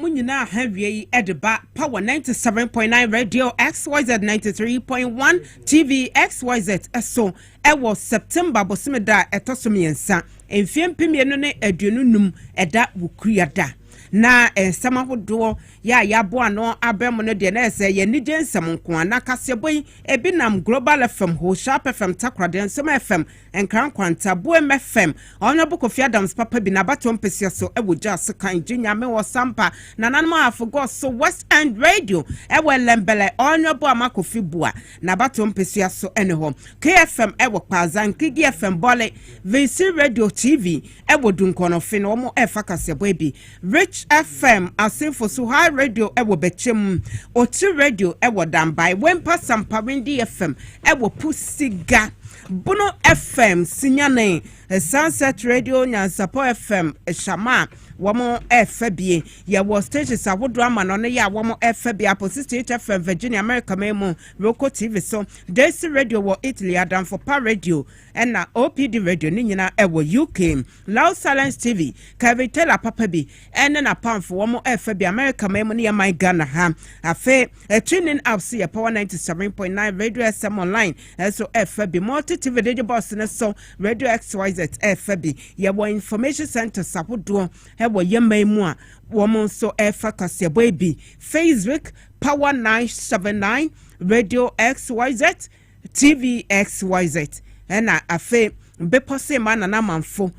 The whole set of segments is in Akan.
Wɔn nyinaa ha wie yi de ba Power 97.9 Radio XYZ 93.1 TV XYZ so wɔ September bosome da a ɛtɔ so mmiɛnsa mfeɛ mpem mmienu ne aduonu num ɛda Wukuria da. Na nsɛm ahodoɔ yɛ a yɛaboa ano abɛn mu no deɛ na ɛsɛ yɛ anigye nsɛm nko a na kaseɛbɔ yi ebi nam Global FM, Hoshap FM, Takoradi Nsɛm FM, Nkran Nkwanta, Boem FM, Honourable Kofi Adams papa bi n'abatoɔ mpesua so wɔ gya so kan gye nyame wɔ Sampa, Nananom Ahafo Gods so West End Radio wɔ Ɛlɛmbɛlɛ, Honourable Ama Kofi Bua n'abatoɔ mpesua so ne hɔ, KFM wɔ Kpaadza, Nkigi FM, Bole, Vinsir Radio TV, Ɛwɔ Dunkɔnɔfe no wɔn ɛfa kasɛbɔ ɛbi Rich FM asenfo so High radio ɛwɔ bɛkyɛ mu Otiri radio ɛwɔ Danbae Wempa Sampa Windi FM ɛwɔ Pusiga Bono FM Sinyane Sunset radio Nyansapɔ FM Shama a wɔn ɛfa bie yɛwɔ stations ahodoɔ ama no no yɛ a wɔn ɛfa bie Apo 68 FM Virginia America man mu Roko TV so Desi radio wɔ Italy Adanfopa radio Ɛna OPD radio no nyina ɛwɔ UK. Loud Silence TV, Kevin Taylor papa bi ɛne n'apamfo wɔn ɛfa bi America man mu ne yɛn man Ghana ha. Afei, TuneIn app so yɛ Power 97.9, Radio SM Online ɛso ɛfa bi, Multi TV Digital Box no so, Radio XYZ ɛfa bi. Yɛwɔ information centres ahodoɔ ɛwɔ yɛn man mu a wɔn nso ɛfa kaseɛbɔ yi bi, Facebook, Power 979, Radio XYZ, TVXYZ ɛna afei bepɔ se ma nana manfo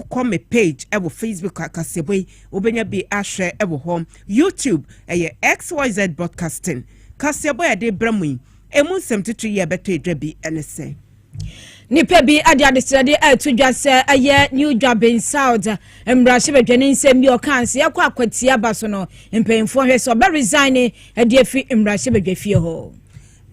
kɔ me page ɛwɔ facebook akaseɛbɔ yi wobɛnya bi ahwɛ ɛwɔ hɔ youtube ɛyɛ xyz broadcasting kaseɛbɔ ɛde brɛ mu yi ɛmu nsɛm titiri yɛ ɛbɛtɔ ɛdwa bi ɛne sɛ nipa bi ade adesrɛde ɛto dwa sɛ ɛyɛ new dwaben south mmarahyɛ badwani nsɛm bi ɔka nse ɛkɔ akwatia ba so no mpanyinfoɔ hwɛ sɛ ɔbɛ resign ɛde afi mmarahyɛ badwa fie hɔ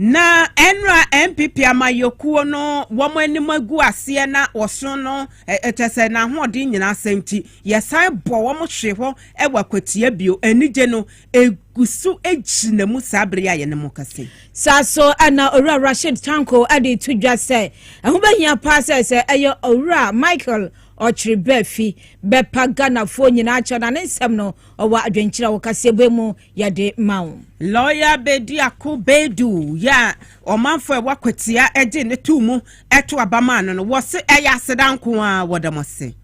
Na ɛnora NPP amayɔkuo no wɔn anim agu aseɛ na wɔso no kyɛ sɛ n'ahoɔden nyina asɛe nti yɛsan bɔ wɔn hwe hɔ wɔ akwatia bio anigye no ɛguso gyina mu saa bere a yɛne mo kasa yi. Saa so na Owura Rashid Tanko de to dwa sɛ ɛho bɛhia paa sɛ sɛ ɛyɛ Owura Michael Ɔkyere Baafi bɛpa Ghanafoɔ nyinaa kyɛw na ne nsɛm no ɔwɔ adwenkyerɛ wɔ kaseɛbɔ mu yɛde ma wo. Lɔya Bedi Ako Badu yɛ a ɔmanfo a ɛwɔ Akwatia gye no too mu to aba maa no no, wɔse ɛyɛ aseda nko ara, wɔda mo ase.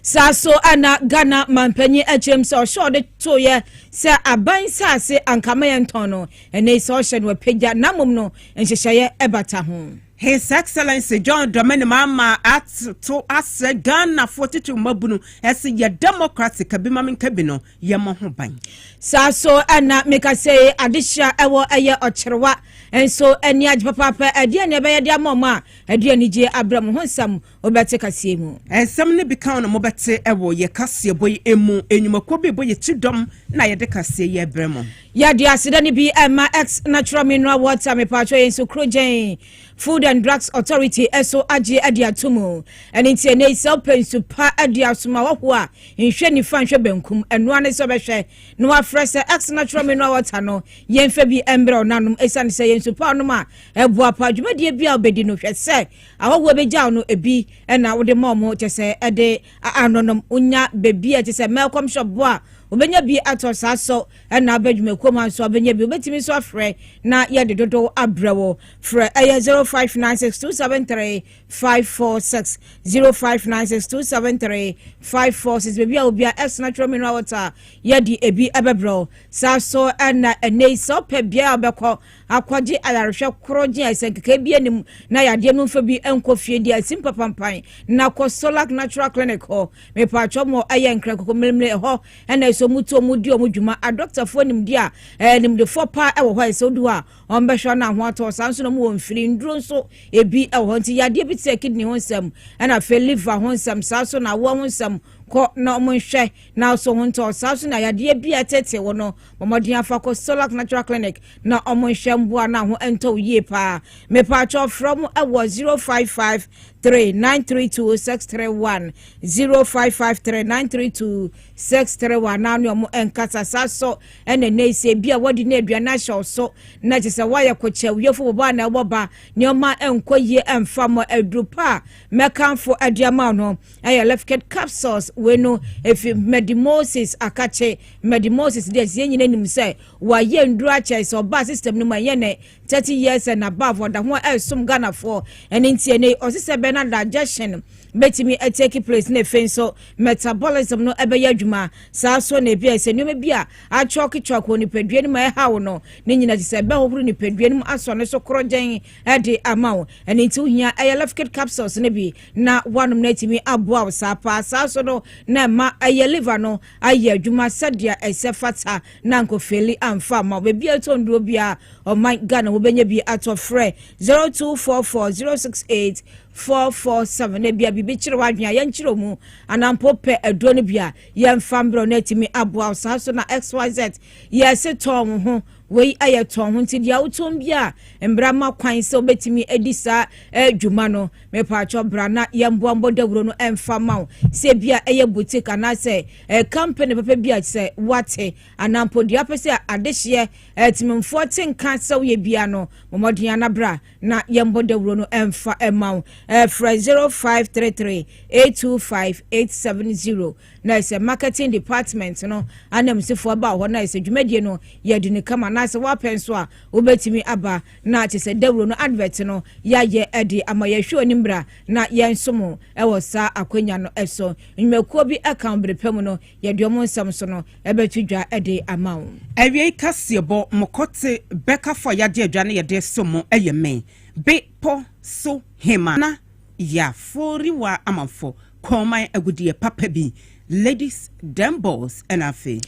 Saa so na Ghana manpanyin akyerɛm sɛ ɔhyɛ ɔde toeɛ sɛ aban nsase anka ma yɛntɔn no, ɛnnɛ yi sɛ ɔhyɛ no apagya na mmom no nhyehyɛeɛ ɛbata ho. His Excellency John Dramani Mahama ato asɛ Ghanafoɔ titiriw mmabunu sɛ yɛ democracy, ka bi ma menka bi no, yɛn mo ho ban. Saa so ɛna meka sɛ adehyira ɛwɔ ɛyɛ ɔkyerewa nso ɛni agye papaapa ɛdeɛ ne ɛbɛyɛ de ama ɔmo a ɛde anigye abrɛ mo ho nsɛm wobɛte kaseɛ mu. Nsɛm ne bi ka na mobɛte ɛwɔ yɛ kaseɛbɔ yi emu enyumakuo bi bɔ yɛ ti dɔm na yɛde kaseɛ yi ɛbrɛ mo. Yɛde aseda ne bi ɛma X natural mineral water mepatwɔ yɛn nso kuro gyɛn. Food and Drugs Authority nso agye adi ato mu. Ɛno nti ɛnɛ yi sɛ wopɛ nsu pa de asom ahɔhoɔ a, nhwɛ nifa nhwɛ benkum. Ɛno ara ne sɛ wobɛhwɛ na wafrɛ sɛ X Natural Mineral Water no yɛmfa bi mbrɛ wo nanom ɛsiane sɛ yɛ nsu pa wonom a ɛboa pa dwumadie bi a wobɛdi no. Hwɛ sɛ ahɔhoɔ bɛgyaw no ebi na wode ma ɔmo kyɛ sɛ ɛde anonom. Wonya baabi a ɛte sɛ Melcom Shop boa a, wobɛnya bi atɔ saa so. ɛna aba dwumakuo mu nso abɛnya bi wobɛtumi nso afrɛ na yɛde dodow abrɛ wo frɛ ɛyɛ 0596273546 0596273546 baabi a obia ɛsona twerɛ menu a wɔta a yɛde ebi ɛbɛbrɛ wo saa so ɛna ɛnɛ yi sɛ wopɛ biaa wobɛkɔ akɔgye ayarehwɛ koro gye a ɛsɛnkeka bi anim na yadeɛ no mfa bi nkɔ fie deɛ asim papampan na kɔ solak natural clinic hɔ mepɛ atwɔ mɔ ɛyɛ nkra koko mmeremere ɛhɔ ɛna ɛsɛ ɔmo tu ɔmo di ɔmo dwuma adɔktafoɔ nimdeɛ a ɛɛ nimdefoɔ paa ɛwɔ hɔ a ɛsɛ ɔdu hɔ a ɔmo bɛhwɛ ɔno ahoɔ atɔ saa nso na ɔmo wɔ mfiri nnuro nso ebi ɛwɔ hɔ nti yadeɛ bi te sɛ kidney ho nsɛm ɛna afei liver ho nsɛm saa so na awoɔ ho nsɛm kɔ na ɔmo nhwɛ na ɔso ho ntɔ saa so na yadeɛ bi a ɛtete wɔ no bɔmmɔden afa kɔ solac natural clinic na ɔmo nhwɛ mboa na ho ntɔ yie paa mepaakyɛ ɔfrɛ ɔmo ɛwɔ zero five five three nine three two six three one zero five five three nine three two six three one naa ne ɔmo nkasa saa so ɛna ɛnɛ yi sɛ ebi a wɔde ne aduane ahyɛ so na kyerɛ sɛ wɔayɛ kɔkyɛ wiefo bɔbɔ a na ɛwɔ ba nneɛma ɛnkɔ yie ɛnfa mɔ aduro pa a mɛkanfo ɛde ama no ɛyɛ lefked capsules wei no efi medimosis akakye medimosis deɛ ɛsɛ nyina nim sɛ wɔayɛ nduro akyɛ sɛ ɔbaa system no mu ɛnyɛ ne 30 years and above ɔda ho a ɛresom ghanafoɔ ɛne nti ɛnɛ yi ɔse sɛ bɛn na digestion bɛtumi take place na afei nso metabolism no ɛbɛyɛ adwuma saa so na ebi a ɛsɛ nneɛma bi a atwɔketwɔk wɔ nipadua no mu a ɛhaw no ne nyina te sɛ ɛbɛhohoro nipadua no mu asɔ no so korɔgyɛn ɛde ama wo ɛne nti wohia ɛyɛ lefkit capsules no bi na woanom no atumi aboa wo saa paa saa so no na ɛma ɛyɛ liver no ayɛ adwuma sɛdeɛ ɛsɛ fata na nkofeli amfa ama wo baabi a ɛtɔ nnuro bi a ɔman Ghana wobɛnya bi atɔ frɛ 0244 068 447 na ebia biribi kyerɛ w'adwene a yɛnkyerɛ mu anampo pɛ aduro no bi a yɛmfa mbrɛ no atumi aboa wo saa so na xyz yɛse tɔn wo ho wei ayɛ tɔn ho nti deɛ wotɔn bi a mbra ma kwan sɛ wobɛtumi adi saa adwuma no mepaakyɛ bra na yɛmboambɔ dawuro no ɛmfa ma wo sɛ bi a ɛyɛ boutique anaasɛ kampani papa bi a sɛ wate anaa mpo deɛ apɛ sɛ adehyeɛ atimimfoɔ te nka sɛ woyɛ bia no mmɔden anabra na yɛmmɔ dawuro no ɛmfa ɛma wo ɛfrɛ 0533 825 870 na ɛsɛ marketing department no anamsifoɔ aba hɔ na ɛsɛ dwumadie no yɛde ne kama na sɛ woapɛ nso a wobɛtumi aba na kyɛ sɛ dawuro no advert no yɛayɛ de ama yɛhwɛ onimbra na yɛnsom wo wɔ saa akwanya no so. Nnwumakuo bi ka wo bere pa mu no, yɛde wɔn nsɛm nso no bɛto dwa de ama wo. Awiei kaseɛbɔ, Mokɔ te bɛkafo a yɛagye adwa na yɛde resom mo yɛ me, Be pɔ so hemmaa na yɛaforiwa amanfo, Kɔnman agudeɛ papa bi, Ladies, Dem Balls, ɛna afei.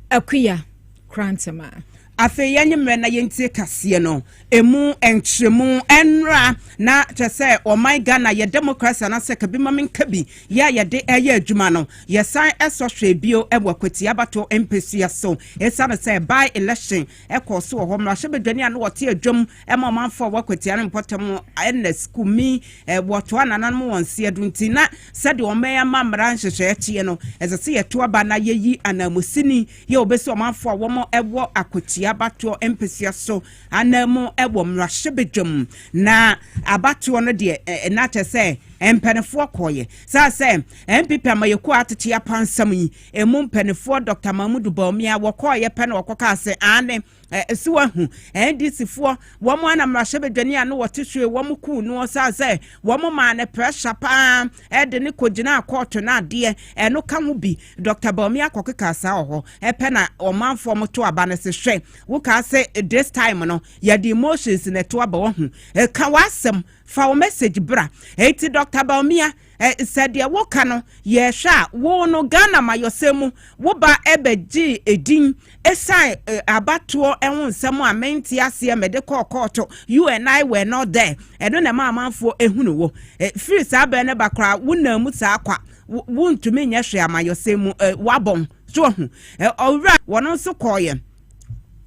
Akuya, Krantama. Afei yɛnye mmerɛ na yɛntie kaseɛ no ɛmu nkyerɛmu ɛnra na kyerɛ sɛ ɔman Ghana yɛ democracy anasɛ kabi ma menka bi yɛ a yɛde ɛyɛ adwuma no yɛsan ɛsɔ hwɛɛ bio wɔ Akwatia Abato mpɛsua so ɛsiane sɛ by election ɛkɔɔ so wɔ hɔ mmarahyɛbadwani a na ɔte adwam ɛma ɔmanfoɔ a wɔ Akwatia no mpɔtam Ernest Kumi wɔtoa nananom wɔn nseɛ do nti na sɛdeɛ ɔman ama mmara nhyehyɛɛ kyeɛ no ɛsɛ sɛ yɛto aba na yɛyi ananmusini Yɛ obe sɛ ɔmanfo a wɔn wɔ akwatia abatoɔ mpesua so anan mu wɔ mmarahyɛbadwam na abatoɔ no deɛ na kyɛ sɛ mpanifoɔ kɔɔyɛ saa sɛ NPP amayɛkuo a atete apansam yi emu mpanifoɔ Dɔkta Mahmudu Bawumia wɔkɔɔyɛ pɛ na wɔkɔkaa sɛ aane Ɛsi wa hu NDC foɔ, wɔn ara na mmarahyɛbadwani a no wɔte soe wɔn kuu no ɔsan sɛ wɔn maa no pressure paa ɛde no kɔgyinaa kɔɔto no adeɛ ɛno ka ho bi. Doctor Bawumia kɔke kaa saa wɔ hɔ ɛpɛ na ɔmanfoɔ mo to aba no se hwɛ wo kaa se this time no yɛde emotions na ɛto aba wahu. Ka w'asɛm, fa wo message bra. Enti Doctor Bawumia Sɛ deɛ woka no yɛhwɛ a, wo no Ghana amayɔsɛm mu wo ba bɛgyee edin ɛsiane abatoɔ ho nsɛm a mente aseɛ mede kɔɔ kɔɔto, you and I were not there, ɛno na ɛma amanfoɔ ɛhunu wo. Firi saa bɛɛ no ba koraa wo naa mu saa kwa, wo ntumi nyɛ hwee amayɔsɛm mu, wabɔn. So ahu? Ɔwura wɔno nso kɔɔyɛ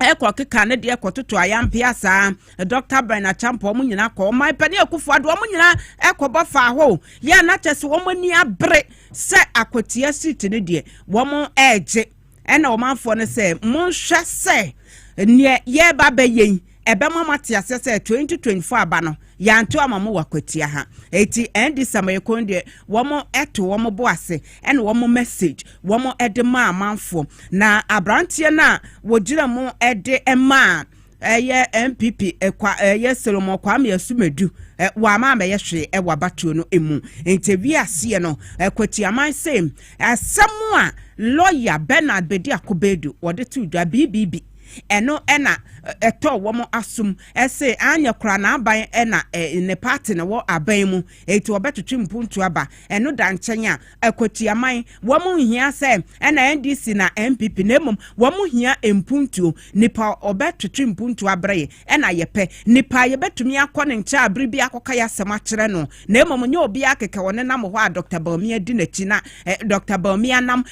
ɛkɔ keka ne deɛ kɔtoto ayampeɛ saa. Dɔkta Bɛn Acheampong wɔn nyinaa kɔ, ɔman panin Akufo Addo wɔn nyinaa kɔbɔ faa hɔ o. Yɛ na kyɛ sɛ wɔn ani abere sɛ akwatia seat no deɛ wɔn regye. Ɛna ɔmanfoɔ no sɛ monhwɛ sɛ neɛ yɛreba bɛyɛ yi ɛbɛma mo ate aseɛ sɛ 2024 aba no yɛanto ama mo wɔ akwatia ha. Eti NDC amayɛkɔn deɛ wɔn ɛto wɔn bo ase ɛna wɔn message wɔn ɛde maa amanfoɔ na aberanteɛ no a wɔgyina mu ɛde maa Ɛyɛ NPP kwa ɛyɛ Solomon Kwame Asumadu wama amɛyɛ hwee wɔ abatoɔ no mu. Nti ɛwie aseɛ no Kwatiaman se asɛm a lɔya Bernard Bedi Akobedu ɔde too dwa BBB ɛno na ɛtɔɔ wɔn asom se anyɛ koraa n'aban na ne party no wɔ aban mu nti ɔbɛtwetwe mpuntuo aba. Ɛno da nkyɛn a Kwatiaman wɔn nhia sɛ ɛna NDC na NPP na mmom wɔn hia mpuntuo Nipa a ɔbɛtwetwe mpuntuo abrɛ yɛn na yɛpɛ. Nipa a yɛbɛtumi akɔ ne nkyɛn bere biara akɔka yɛn asɛm akyerɛ no, na mmom nyɛ obiara kɛkɛ. Ɔnenam hɔ a Dɔkta Bawumia di n'akyi, na Dɔkta Bawumia nam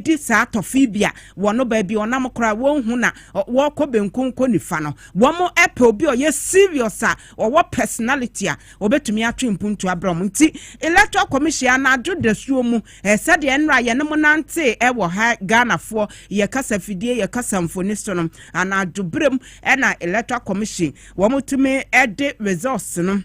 di saa tɔfee bi a wɔn baabi a ɔnam koraa wɔnhu na wɔkɔ benkum kɔ nifa no. Wɔpɛ obi a ɔyɛ serious a ɔwɔ personality a ɔbɛtumi atwe mpuntuo abrɛ wɔn. Nti Electoral Commission anadwo dasuo mu Sɛdeɛ nnora yɛne mo nantee wɔ ha Ghanafoɔ, yɛ kasafidie, yɛ kasamfoni so no, anadwo berɛ mu na Electoral Commission wɔtumi de results no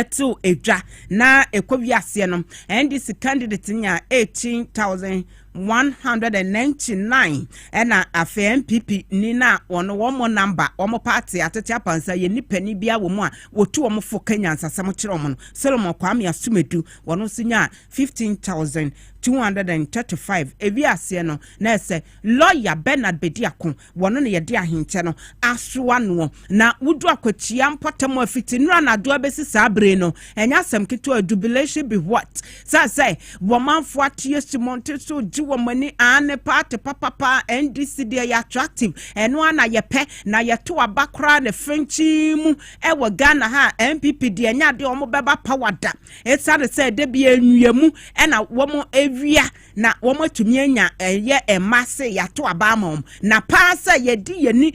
to dwa na ɛkɔ wiaseɛ no, NDC candidate nyaa 18,199 ɛna afei NPP ni na wɔn wɔn namba wɔn paate atete apansa yɛ nipani bia wɔn a wɔtu wɔn fo ka nyansasɛm kyerɛ wɔn no Solomon Kwame Asumadu wɔn nso nyaa fifteen thousand two hundred and thirty five ewi aseɛ no na ɛsɛ lɔya bernard bedi ako wɔn na yɛde ahenkyɛ no asoa noɔ na wodu akwatua mpɔtam afiti nnura na adoa bɛsi saa bere no ɛnyɛ asɛm ketewa jubilation be what sɛ sɛ wɔmanfo ateɛ si mɔnte so gye wɔn ani aane paate papapa ndc deɛ yɛ attractive ɛno ara na yɛpɛ na yɛto aba koraa ne fɛnkyin mu ɛwɔ ghana ha npp deɛ ɛnyɛ adeɛ wɔn bɛba power da Esiane sɛ da bi nnua mu na wɔawia na wɔatumi anya ɛyɛ mma se yɛato aba ama wɔn. Na paa sɛ yɛde yɛn ani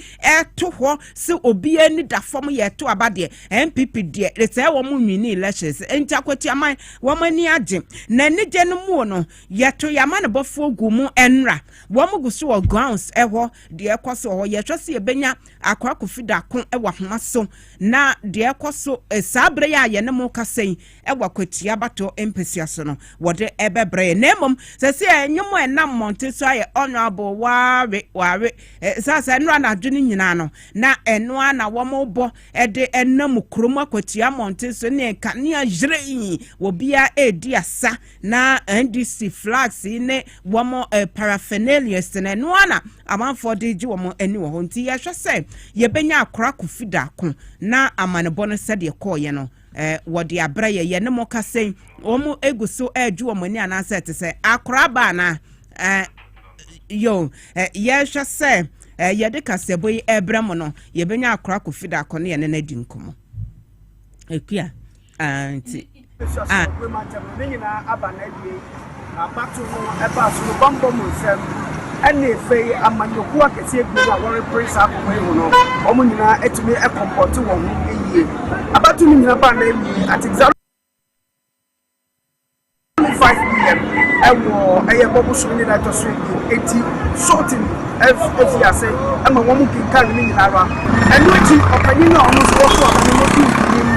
to hɔ sɛ obiara ani da fam yɛto aba deɛ, NPP deɛ, sɛ wɔnwini elections nti Akwatuaman, wɔn ani agye. Na anigye no muo no, yɛto yɛn amanebɔfoɔ gu mu nnra. Wɔgu so wɔ grounds hɔ, deɛ ɛkɔ so wɔ hɔ, yɛhwɛ sɛ yɛbɛnya Akɔ akɔfi daako wɔ ahoma so na deɛ ɛkɔ so saa berɛ yi a yɛne mo rekasa yi wɔ Akwatia Abatɔ mpasua so no, wɔde ɛbɛbrɛ yɛn. Na mmom sɛ sɛ ɛnwom a ɛnam mmɔnten so ayɛ Honourable Wawe Wawe saa sɛ ɛno anadwo no nyinaa no na ɛno ara na wɔrebɔ de ɛnam kurom Akwatia mmɔnten so ne nkanea hyerɛn obiara redi asa Na NDC flags yi ne wɔn paraphernalias no, ɛno ara na amanfoɔ de regye wɔn ani wɔ hɔ. Nti yɛhwɛ sɛ yɛbɛnya akora kofi daako na amanebɔ no sɛdeɛ kɔɔyɛ no, wɔde abrɛ yɛ. Yɛne mo kasa yi, wɔn egu so regye wɔn ani anaasɛ ɛte sɛ akora aba anaa? Yo, yɛhwɛ sɛ yɛde kaseɛbɔ yi ɛbrɛ mo no, yɛbɛnya akora kofi daako ne yɛne no adi nkɔmmɔ. Akua. Ah, nti. Ah. Ne nyinaa aba na awie. Abato no ɛbaa so no bambɔ mu nsɛm ɛne afei amanyɔkuo akɛseɛ bi no a wɔrepere saa akɔkɔ yi ho no wɔn nyinaa atumi ɛkɔmpɔte wɔn ho yie. Abato no nyinaa baa na awie. Atigzaro Twenty five pm ɛwɔ ɛyɛ bɔ bosom ne da ɛtɔ so abien eti sorting ɛf efi ase ɛma wɔn kenkan ne nyinaa ra ɛno akyi ɔpanyin no a wɔn nso wɔso ɔpanyin no di nkunim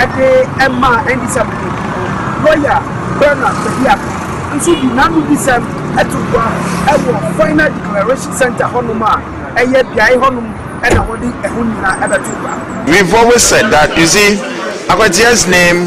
ɛde ɛma ndc abɛnɛfi no lɔya Bernard Bediako nso di n'ano bisɛm ɛto gua ɛwɔ final declaration center hɔnom a ɛyɛ beae hɔnom ɛna wɔde ɛho nyinaa ɛbɛto gua. We've always said that, you see, Akwatea's name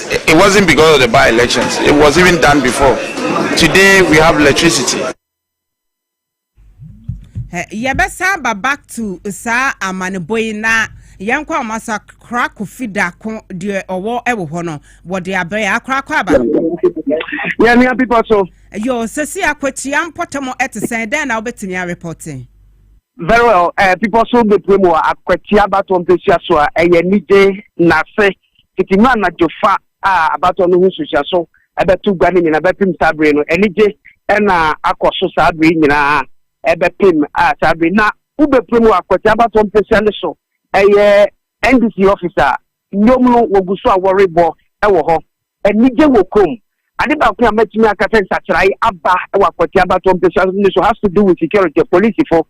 It wasn't because of the by elections it was even done before today we have electricity. yɛbɛsan ba back to saa amanebɔ yi na yɛn kɔ ɔmo asa kora kofi dako deɛ ɔwɔ ɛwɔ hɔ no wɔde abɛn akora kɔ aba. yɛnua bibɔ so. yo sɛsi akwatia mpɔtam ɛte sɛn dɛn na wobɛtumi arepɔte. very well ɛɛ eh, bibɔ so bepue mu akwatia abatɔ mpesua so a ɛyɛ anigye nase. Tete mu anadwo fa a abatɔ no ho nsusuaso bɛto gua no nyinaa bɛpem saa bere no. Anigye na akɔ so saa bere nyinaa bɛpem a saa bere na wobɛpue mu wɔ Akwati Abatɔ mpesua no so. Ɛyɛ NDC office a nnwom no wɔgu so a wɔrebɔ wɔ hɔ. Anigye wɔ kurom. Ade baako a mɛtumi aka sɛ nsakyerae aba wɔ Akwati Abatɔ mpesua no so has to do with security, polisifo.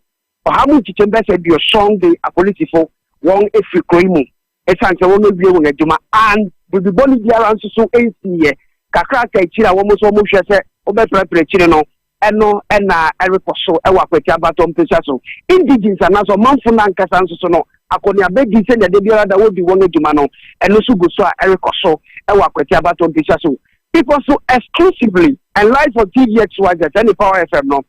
Ɔhaw mu nkyekyɛm bɛyɛ sɛ aduɔsɔn de apolisifo wɔn afiri kuro yi mu esiane sɛ wɔn awie wɔn adwuma an biribi bɔne biara nso so nsiiɛ. Kakra aka akyiri a wɔn nso wɔn hwɛ sɛ wɔbɛprapra akyiri no, ɛno na ɛrekɔ so wɔ Akwati Abatɔ mpesua so. Indigenes anaasɛ ɔmanfo no ankasa nso so no, akɔneabadi sɛnea da biara da wɔdi wɔn adwuma no, ɛno nso gu so a ɛrekɔ so wɔ Akwati Abatɔ mpesua so. Bepɔ so exclusively and live on TVXYZ ne Power FM no.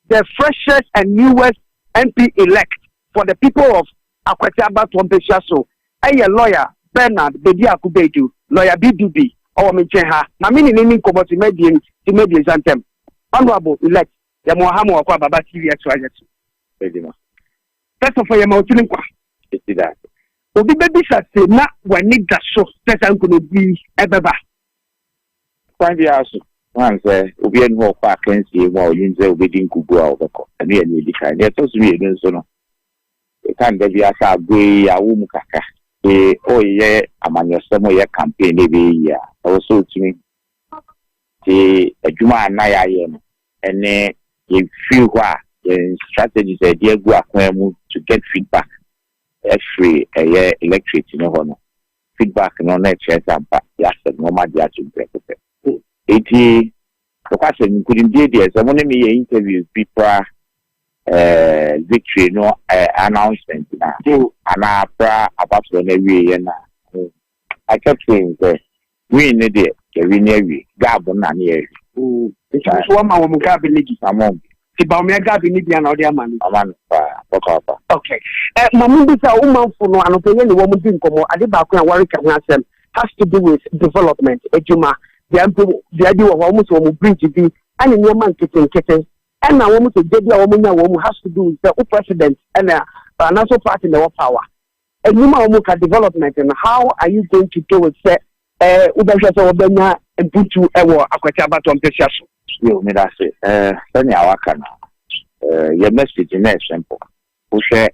The freshest and newest MP elect for the people of Akwete abatoɔ mpesua so yɛ lawyer Bernard Bediako Beidu, lawyer BDB, ɔwɔ me nkyɛn ha na me ne no nni nkɔmmɔ tema abien tema abiɛnsa ntam. Honourable elect yɛma wo ha ma wakɔ Ababa TV XYZ so. Adwuma. First of all yɛma wo tiri nkwa. Ɛsi da. Obi bɛbisa se na w'ani da so sɛ saa nkunimdie yi bɛba. Kwan biara so, woahu sɛ obiara nni hɔ a ɔkɔ akansie mu a ɔnim sɛ obedi nkoguo a ɔbɛkɔ. Ɛno yɛ nea edi kan. Nea ɛtɔ so mmienu nso no, yɛkan da biara sɛ agoe yi, yɛawo mu kakra. Sɛ ɔreyɛ amanyɔsɛm, ɔreyɛ campaign na ɛbɛyɛ yie a, ɛwɔ sɛ ɔtumi te adwuma a na yɛayɛ no ne yɛn firi hɔ a yɛn strategies a yɛde agu akwan mu to get feedback afiri ɛyɛ electorate no hɔ no. Feedback no na ɛkyerɛ sɛ ampa yɛasɛ nnoɔma de ato nkurɔfo pɛ. Enti, nokwasɛm no, nkonimdie deɛ, sɛ mo ne me yɛ interviews bi pra victory no announcement no a, anaa pra abasoɔ no awieɛ no a, I kept saying sɛ, win no deɛ, yɛwine awie. Gab no na ne yɛhwɛ. Nti wo nso woama wɔn gab no bi? Among. Ti Baumia Gabi ne bia na ɔde ama no. Ama no paa, papaapa. Okay. Eh, ma mo bi sɛ wo manfo no anɔpɛ yɛ ne wɔn di nkɔmmɔ. Ade baako a wɔreka ho asɛm has to do with development, adwuma. Bia mpo bia bi wɔ hɔ wɔn sɛ wɔn bridge bi ɛne nneɛma nketenkete. Ɛna wɔn sɛ gye bi a wɔn nya wɔn has to do with sɛ wo president ɛna anaso party na ɛwɔ power. Ɛnwuma a wɔka development no, how are you going to do it sɛ eh, wobɛhwɛ sɛ wɔbɛnya mputu wɔ akwati abatɔ mpɛsia so? Yo, meda ase. Eh, sɛnea waka no, eh, yɛ message no yɛ simple. Wohwɛ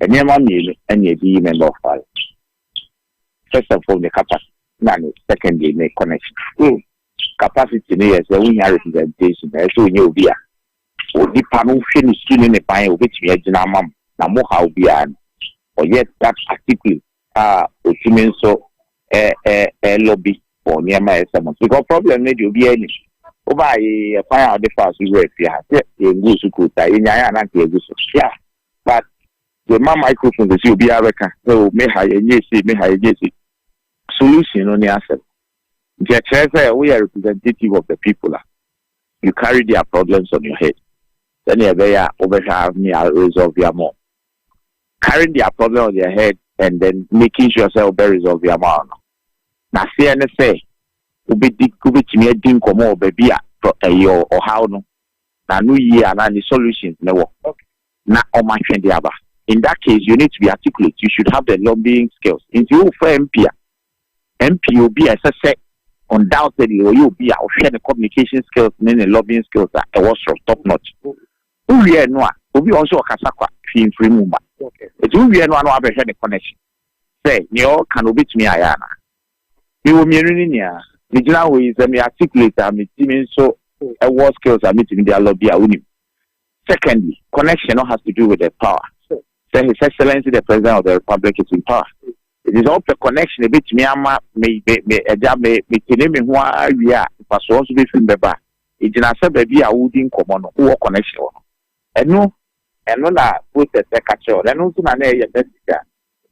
nneɛma mmienu ɛne ɛdi yi member of parliament. First of all, the capacity na ne secondary ne connection. Mm. Capacity no yɛ sɛ wonya representation, ɛsɛ wonyɛ obi a Onipa no hwɛ ne su ne ne ban a obetumi agyina ama mo, na mo haw biara no, ɔyɛ that articulate a otumi nso ɛ-ɛ-ɛ lobby for nneɛma a ɛyɛ sɛ mo. Because problem no deɛ obiara nim. Wobaa yi, ɛkwan a wode faa so wuraa fie ha, sɛ yɛnguu so kuu saa, yɛnyaeɛ a na anka yɛagu so. Yeah, but sɛ ma microphone sɛsi obiara bɛka sɛ o me ha yɛnyɛɛ sei, me ha yɛnyɛɛ sei. Solution no ne asɛm. Nti ɛkyerɛ sɛ woyɛ representative of the people a, You carry their problems on your head sɛnea ɛbɛyɛ a wobɛhwɛ a ne a resolve ya mo. Carrying their problem on their head and then making sure sɛ wobɛ resolve ya mo no, n'aseɛ ne sɛ wobɛdi wobɛtumi adi nkɔmmɔ wɔ baabi a ɛyɛ ɔhaw no na no yie anaa ne solutions ne wɔ na ɔmatwe de aba. In that case, you need to be articulate. You should have the lobbying skills. Nti wofa MP a, MP yɛ obi a ɛsɛ sɛ undoubtedly ɔyɛ obi a ɔhwɛ ne communication skills ne ne lobbying skills a ɛwɔ soro, top notch. Wowie ɛno a, obi wɔ hɔ nso ɔkasa kwa, hwee mfiri mu mma. Enti wowie ɛno a na wabɛhwɛ ne connection sɛ nea ɔreka no obetumi ayɛ anaa. Mewɔ mmienu no nyinaa. Megyina hɔ yi, sɛ me articulate a, me ti me nso wɔ skills a metumi de alobby a, wonim. Secondly, connection no has to do with the power. Sɛ His Excellency the President of the Republic is in power. Ɛti sɛ wopɛ connection ɛbɛtumi ama me me ɛgya me metene me ho awie a mfasoɔ nso bɛfiri bɛba. Ɛgyina sɛ baabi a wodi nkɔmmɔ no wowɔ connection wɔ no. Ɛno ɛno na process ɛka kyerɛ wɔ no. Ɛno nso na na ɛyɛ message a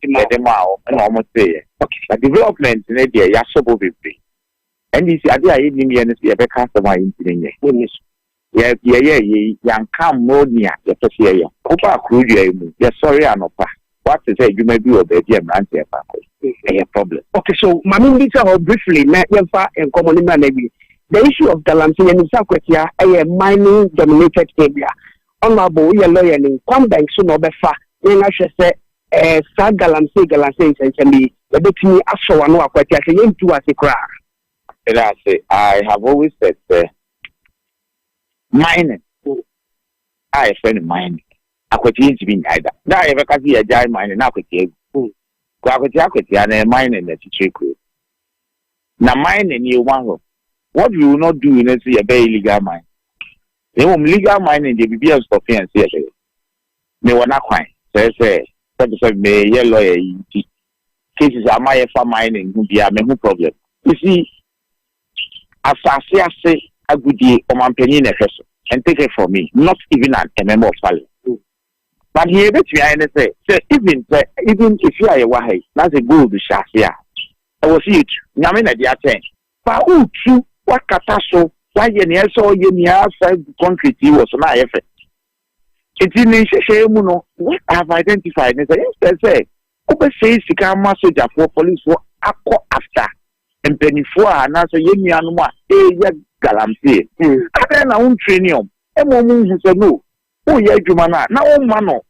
yɛde maa wɔn ɛna wɔn teeɛ. Okay. Na development ne deɛ yɛahyɛ bɔ bebree. Ɛnde si ade a yennim yɛ ne sɛ yɛbɛka asɛm a enti no nyɛ. Wonni so. Yɛ, yɛyɛɛ yei, yɛanka ammoro nea yɛpɛ sɛ yɛyɛ ho. Wobaa kuro dua yi mu, yɛsɔree anɔpa, woate sɛ adwuma bi wɔ baabi a mmeranteɛ mfa nkɔ yi. Ɛyɛ problem. Okay, so ma mimmisa hɔ briefly na yɛmfa nkɔmmɔ no mmra no awie. The issue of Galamsey, yɛnim sɛ Akwatia yɛ mining dominated area. Honourable, woyɛ lɔyani, kwan bɛn so na wobɛfa na yɛn ahwɛ sɛ Ɛɛ, saa galamsey galamsey nsɛnsɛm yi, yɛbɛtumi asɔ w'ano akwati a, sɛ yɛntu w'ase koraa. Meda ase. I have always said sɛ mining a yɛfrɛ no mining, akwati yɛntumi nnyae da. Da a yɛbɛka sɛ yɛagyae mining na akwati agu. Hmm. Kɔ akwati akwatia na yɛ mining na titiri kuro. Na mining yɛ wɔn ahɔ. What we will not do ne sɛ yɛbɛyɛ illegal mining. Na mmom legal mining deɛ biribi a nsɔfe yɛn sɛ yɛbɛyɛ. Mewɔ n'akwan, kyerɛ sɛ, sɛbesɛbe me yɛ lawyer yi nti, cases a mayɛ fa mining ho biara me ho problem. You see, asase ase agodie, ɔmanpanyin na ɛhwɛ so and take it from me, not even an a member of parliament. But nea yɛbɛtumi ayɛ ne sɛ, sɛ even sɛ, even efie a yɛwɔ ha yi, na sɛ gold hyɛ ase a, ɛwɔ sɛ yɛtu. Nyame na ɛde akyɛn. Fa wo tu, woakata so, woayɛ nea ɛsɛ sɛ ɔyɛ nyinaa, fa gu concrete yi wɔ so na ayɛ fɛ. Enti ne nhyehyɛeɛ mu no, what I have identified ne sɛ instead sɛ wobɛsɛe sika ama sogyafoɔ, policefoɔ akɔ after mpanimfoɔ a anaasɛ yɛn nuanom a ɛreyɛ galamsee, adɛn na wontraini wɔn ma wɔhu sɛ no, woyɛ adwuma no a na womma no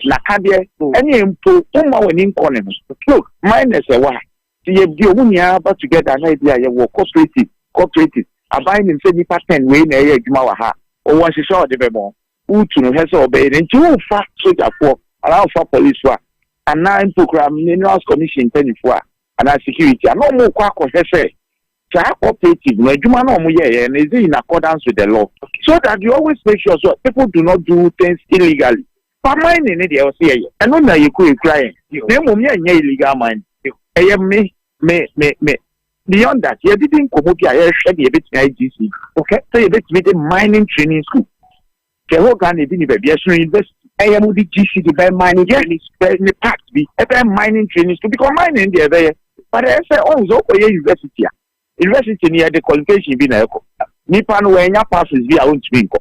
nakadeɛ, ɛne mpo womma w'ani nkɔ ne ho. Look, minus ɛwɔ ha, Sɛ yɛde wɔn nyinaa ba together na ebi a yɛwɔ cooperative, cooperatives, aban nim sɛ nnipa ten wei na ɛyɛ adwuma wɔ ha, wɔwɔ nhyehyɛe a wɔde bɛma wɔn, wotu no hwɛ sɛ wɔbɛyɛ no. Nti wofa sogyafoɔ anaa wofa polisfoɔ a, anaa mpo koraa minerals commission mpanyinfoɔ a, anaa security a, na wɔkɔ akɔhwɛ sɛ saa cooperative no adwuma no a wɔyɛeɛ no is it in accordance with the law. So that you always make sure sɛ people do not do things illegally. Fa mining ne deɛ ɔse yɛyɛ ɛno na yɛkura ɛkura yɛn na mmom yɛnyɛ illegal mining ɛyɛ me me me me beyond that yɛdedi nkɔmmɔ bi a yɛhwɛ deɛ yɛbɛtumi ayɛ GC okay sɛ yɛbɛtumi de mining training school sɛ hɔ Ghana ebi ni baabi ɛsono university ɛyɛ mo de GC de bɛyɛ mining training yes ne part bi ɛbɛyɛ mining training school because mining deɛ ɛbɛyɛ but ɛyɛ sɛ ɔn sɛ ɔkɔyɛ university a University no yɛde qualification bi na ɛkɔ. Nipa no wannya passes bi a ontumi nkɔ.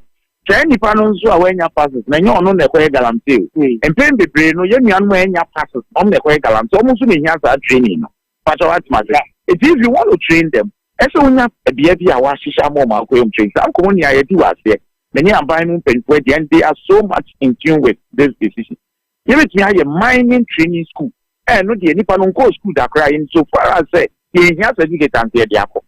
Saa nipa no nso a wannya passes no ɛnyɛ ɔno na ɛkɔyɛ galamsey o. Mpɛn bebree no yɛn nuanom a ɛnya passes no wɔn na ɛkɔyɛ galamsey. Wɔn nso na ehia saa training no. Mpakyɛ wate m'ase? Eti if you want to train them ɛsɛ wonya bea bi a wɔahyehyɛ ama wɔn akɔyɛ wɔn training. Saa nkɔmɔ nea yɛdi wɔ aseɛ me ne aban mu mpanyinfoɔ ɛdeɛ and they are so much in tune with this decision. Yɛbɛtumi ayɛ Mining Training School, a ɛno deɛ nnipa no nkɔɔ school da koraa in so far as sɛ yɛnhia certificate anka yɛde akɔ.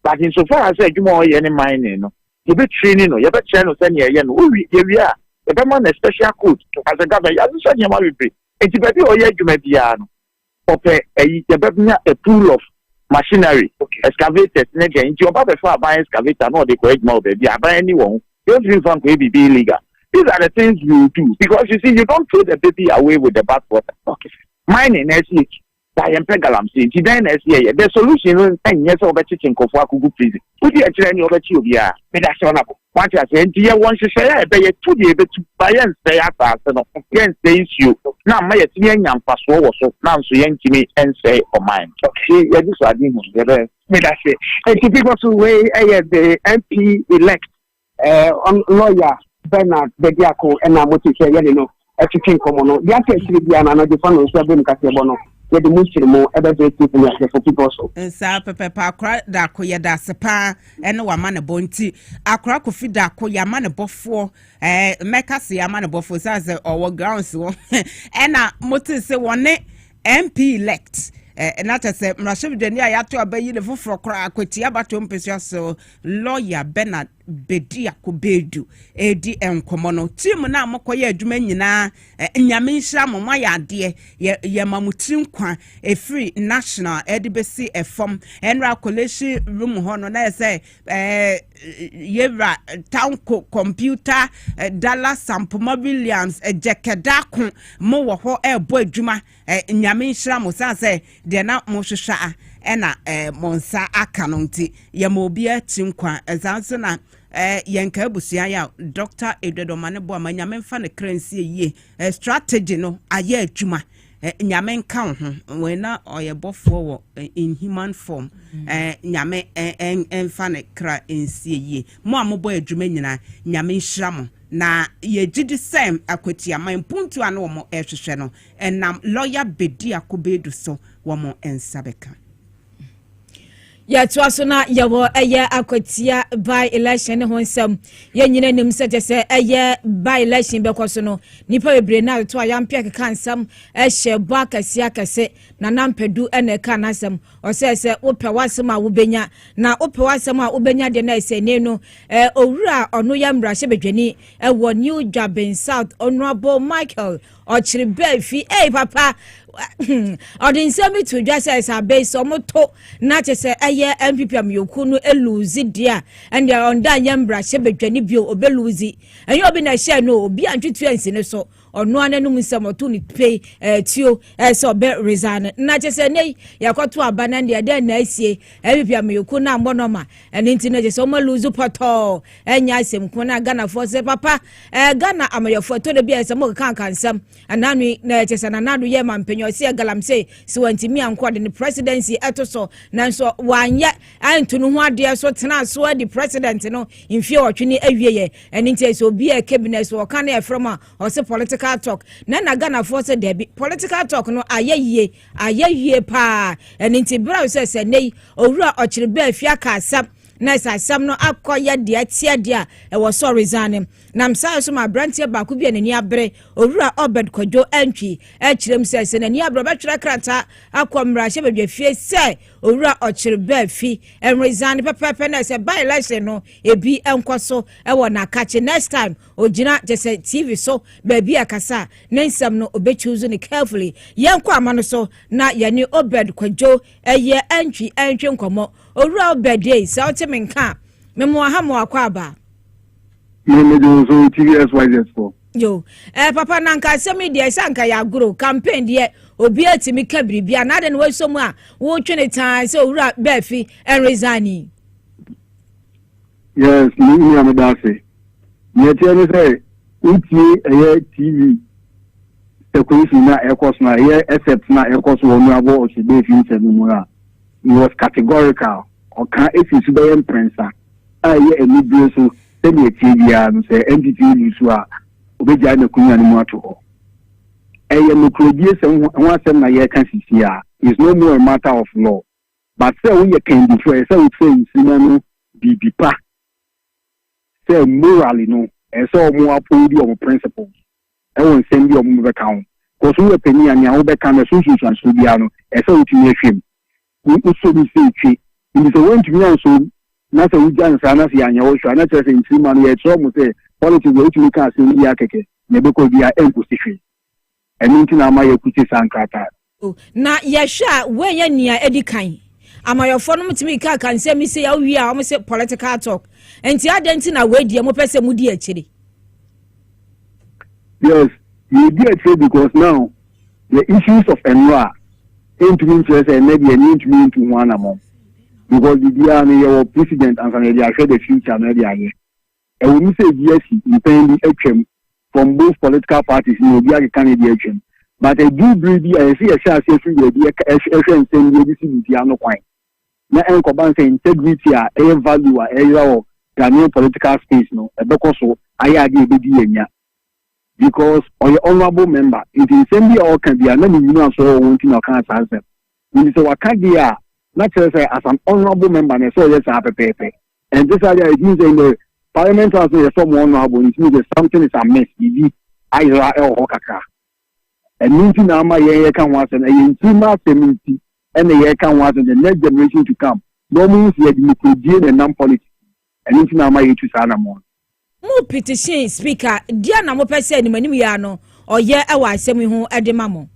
But in so far as sɛ adwuma a ɔyɛ ne mining no, yɛbɛ traini no, yɛbɛkyerɛ no sɛdeɛ ɛyɛ no, owie, yɛwie a, yɛbɛma no a special coat, as a government, yɛahyehyɛ nneɛma bebree, nti baabi a ɔyɛ adwuma biara no, Wɔpɛ ayi yɛbɛnya a pool of machinery, excavators ne dɛn nti ɔba bɛfa aban excavator na ɔde kɔ adwuma wɔ baabi a aban ani wɔ ho deɛ ɔntumi mfa nkɔyɛ biribi illegal these are the things we will do because you see you don't throw the baby away with the bath water okay mining na ɛsi akyi ba yɛmpɛ galamsey nti dɛn na ɛsi ɛyɛ the solution no ɛnyɛ sɛ wɔbɛkyekye nkurɔfoɔ akogu prison wodi ɛkyerɛ ne wɔbɛkye obiara meda sɛ ɔnabo Wate aseɛ? Enti yɛwɔ nhyehyɛeɛ a ɛbɛyɛ tu deɛ yɛbɛtu, ma yɛnsɛe asaase no, yɛnsɛe nsuo, na ama yɛatumi anya mfasoɔ wɔ so, nanso yɛntumi nsɛe ɔman no. Ɔse yɛgye so ade hunu deɛ ɛbɛyɛ. Medase. Enti before so wei ɛyɛ the MP elect. Ɛɛ lawyer Bernard Bediako ɛna mote sɛ yɛne no ɛtwetwe nkɔmmɔ no de aka akyire biara no anadwofa no nso abom kaseɛbɔ no yɛde mu nkyere mu ɛbɛbrɛ tiefo ne ateɛfo pipɔ so. Nsaa pɛpɛɛpɛ akora dako yɛda ase paa ɛne wama ne bɔ nti akora kofi dako yɛama ne bɔfoɔ ɛɛ mɛka se yɛama ne bɔfoɔ saa sɛ ɔwɔ grounds wɔ ɛna mote se wɔne mp elect ɛɛ na kyɛ sɛ mmarahyɛbadwani a yɛato abɛyi ne foforɔ koraa akwatia bato mpesua so lɔya bernard Bediako Badu redi nkɔmmɔ no. Team no a mokɔyɛ adwuma nyinaa Nyame nhyira mo, moayɛ adeɛ. Yɛ yɛma mo tiri nkwa ɛfiri national de bɛsi fam. Ɛnora collation room hɔ no na yɛ sɛ ɛɛ yɛwura Tanko computer Dallas Sampoma Williams Gyɛkɛdaako mo wɔ hɔ ɛrebɔ adwuma. Eh, Nyame nhyira mo, sane sɛ deɛ na mohwehwɛ a ɛna eh, mo nsa aka no nti, yɛma obi akyi nkwa. Ɛsaa nso na eh, yɛn ka abusua yɛ a Dr. Eduardo ma ne boa ma Nyame mfa ne kra nsie yie. Eh, strategy no ayɛ adwuma. Eh, Nyame nka wo ho. Wei na ɔyɛ bɔfoɔ wɔ eh, in human form. Eh, Nyame eh, eh, mfa ne kra nsie yie. Mo a mobɔ adwuma nyinaa, Nyame nhyira mo. Na yɛgye di sɛ akwatiaman mpuntu a na wɔn ɛrehwehwɛ no, Ɛnam lɔya Bediako Badu so, wɔn nsa bɛka. Yɛtoa so na yɛwɔ ɛyɛ akwatia by election ne ho nsɛm. Yɛn nyina nim sɛ kyɛ sɛ ɛyɛ by election bɛkɔ so no, nipa bebree na atoto a yɛampɛ keka nsɛm ɛhyɛ bɔ akɛse akɛse. Nana Mpadu na ɛka n'asɛm. Ɔsɛ sɛ wopɛ w'asɛm a wobɛnya. Na wopɛ w'asɛm a wobɛnya deɛ na ɛsɛ ne no eh, owura a ɔno yɛ mmarahyɛbadwani ɛwɔ New Dwaben South, Honourable Michael ɔkyere bɛɛ fi ei papa ɔde nsɛm bi to dwa sɛ sɛ abɛyi sɛ ɔmoto na kyɛ sɛ ɛyɛ npp amanyɔkuo no ɛluzi deɛ a ɛndeɛ ɔnda nyɛ mmarahyɛ badwane bio ɔbɛluzi ɛnyɛ obi na ɛhyɛ no obi a ntwetua nsi no so ɔnoa no anum nsɛm ɔto ne pei ɛtuo eh, ɛsɛ eh, ɔbɛ resign no na kyɛ sɛ ɛnɛ yɛkɔto aba no ɛndeɛ dɛn na asie npp amanyɔkuo no ammɔ nɔma ɛno nti na kyɛ sɛ ɔma luzi pɔtɔɔ ɛnyɛ asɛm ko na ghanafoɔ sɛ papa ɛɛ eh, ghana amayɔfoɔ ɛtɔ da bi a ɛsɛ mo kanka nsɛm ɛnaano yi na ɛkyɛ sɛ nanaado yɛ ma mpanyin ɔsi yɛ galamsey si wɔn ntumi ankɔ de ne presidency ɛto so nanso wanyɛ ɛnto no ho adeɛ so tena so adi president no mfie ɔtwe ne awie yɛ ɛne nti ɛsɛ obi a ɛkɛ bi na ɛsɛ ɔka ne ɛfrɛ mu a ɔsɛ political talk na na ghanafoɔ sɛ dɛbi political talk no ayɛ yie ayɛ yie paa ɛne nti berɛ a sɛ sɛ nne yi owura ɔkyere bɛɛ fi aka asɛm na ɛsɛ asɛm no akɔyɛ deɛ ɛteɛ deɛ a ɛwɔ sɔre zan no nam saa so ma aberanteɛ baako bi a n'ani abere owura ɔbɛd kwadwo antwi akyerɛ mu sɛ sɛ n'ani abere ɔbɛtwerɛ krataa akɔ mmarahyɛ badwafie sɛ owura ɔkyere baa fi ɛwere zan no pɛpɛɛpɛ na ɛsɛ ba election no ebi nkɔ so ɛwɔ n'akakye next time ogyina kyɛ sɛ tv so baabi a kasa ne nsɛm no obɛchuuzu no carefully yɛnkɔ ama no so na yɛne ɔbɛd kwadwo ɛyɛ antwi antwi nkɔmmɔ Owura Obed ei, sɛ wote me nka a, memoa ha mo akwaaba. Me me de nso TV SYZ fo. Yo, eh, papa na nka asɛm yi deɛ sɛ nka yɛ agoro, campaign deɛ obi atumi ka biribi a, na adɛn na wɔasɔ mu a wotwe ne taa sɛ owura bɛafi ɛnresign yi? Yes, me nua meda ase. Nea ɛteɛ ne sɛ wotie ɛyɛ TV circulation na ɛkɔ so na ɛyɛ except na ɛkɔ so wɔ nuabɔ ɔsɛ bɛɛfi nsɛm mu a He was categorical, ɔka fii so bɛyɛ mprɛnsa, a ɛyɛ anibere so sɛ nea ɛteɛ biara no, sɛ NDP nni so a, obegyae n'akonwa no mu ato hɔ. Ɛyɛ nokoredie sɛ ho ho asɛm na yɛreka sisi a, he is no more a matter of law. But sɛ woyɛ kandifoɔ a, ɛsɛ sɛ wofrɛ Nkrumah no biribi pa, sɛ morally no, ɛsɛ sɛ wɔn approve wɔn principles. wɔ nsɛm bi a wɔbɛka ho. Because woyɛ panin a, nea wobɛka no, ɛso nsunsuansoɔ biara no, ɛsɛ sɛ wotumi hwɛ mu. Wo wosɔ mu sɛ etwe. Nti sɛ woantumi ansɔ mu, na sɛ wogya no saa na sɛ yɛanyɛ wo hwɛ a, na ɛkyerɛ sɛ nkyirimma no, yɛrekyerɛ wɔn sɛ politics deɛ wotumi ka asɛm biara kɛkɛ, nea ɛbɛkɔ biara ɛnkɔsi hwee. Ɛno nti na ama yɛakute saa nkrataa no. Na yɛhwɛ a wei yɛ nea edi kan amayɔfoɔ no tumi kaka nsɛm yi sɛ yɛawie a wɔn sɛ political talk nti adan nti na wei deɛ mopɛ sɛ modi akyire. yes yɛdi akyire because now the issues of nnora ɛntumi nkyerɛ sɛ ɛnɛ deɛ ɛne ntumi ntu ho anamɔ because biribiara no yɛwɔ president ansa na yɛde ahwɛ the future na ɛde ayɛ Ɛwom sɛ ebi asi mpɛn bi atwam from both political parties na obi akeka ne deɛ atwam but ɛduru bere bi a ɛsɛ sɛ yɛhyɛ aseɛ firi baabi ɛhwɛ nsɛm bi ɛde si biribiara ano kwan na ɛnkɔba sɛ integrity a ɛyɛ value a ɛyera wɔ Ghanaian political space no ɛbɛkɔ so ayɛ adeɛ ɛbɛdi yɛn nya because ɔyɛ honourable member nti nsɛm bi a ɔka bi a na ne nwunu aso wɔ wɔn nti na ɔka saa nsɛm Mede sɛ waka deɛ a, na kyerɛ sɛ as an honourable member na ɛsɛ ɔyɛ saa pɛpɛɛpɛ. Ɛnte saa deɛ a, it means sɛ in the Parliament House no yɛsɔ mo honourable no, it means sɛ something is amiss, biribi ayera wɔ hɔ kakra. Ɛno nti na ama yɛn yɛka ho asɛm, ɛyɛ mfirima asɛm nti ɛna yɛka ho asɛm, the next generation to come, na wɔn hu sɛ yɛde nokorɛdie na ɛnam politics mu. Ɛno nti na ama yɛtu saa anammɔn no. Mo petition Speaker, deɛn na mopɛ sɛ animanimyea no ɔyɛ wɔ asɛm yi ho de ma mo?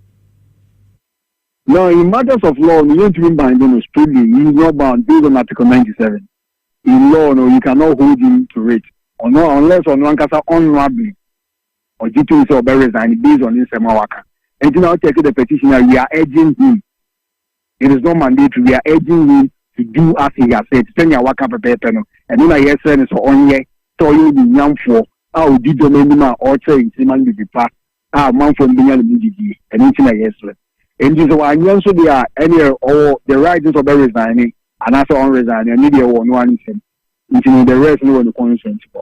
Now in matters of law no yɛntumi binde no strictly, he is not bound based on article ninety seven in law no you cannot hold him to it ɔno unless ɔno ankasa honourably ɔgye tom sɛ ɔbɛ resign based on nsɛm a waka nti na ɔtɛke the petition a we are urging him it is not mandatory we are urging him to do as he has said sɛnea waka pɛpɛɛpɛ no ɛno na yɛsrɛ no sɛ ɔnyɛ sɛ ɔyɛ onyinyanfoɔ a ɔdi dɔm anim a ɔkyerɛ nkyirima no bibi pa a ɔmanfoɔ no bɛnya ne mu gyidie, ɛno nti na yɛsrɛ. Enti sɛ wanyɛ nso deɛ a, ɛnneɛ ɔwɔ the right sɛ ɔbɛ resigne anaasɛ ɔn resigne, ɛno deɛ ɛwɔ ɔno ara ne nsam. Nti no, the rest no wɔ ne constituency hɔ.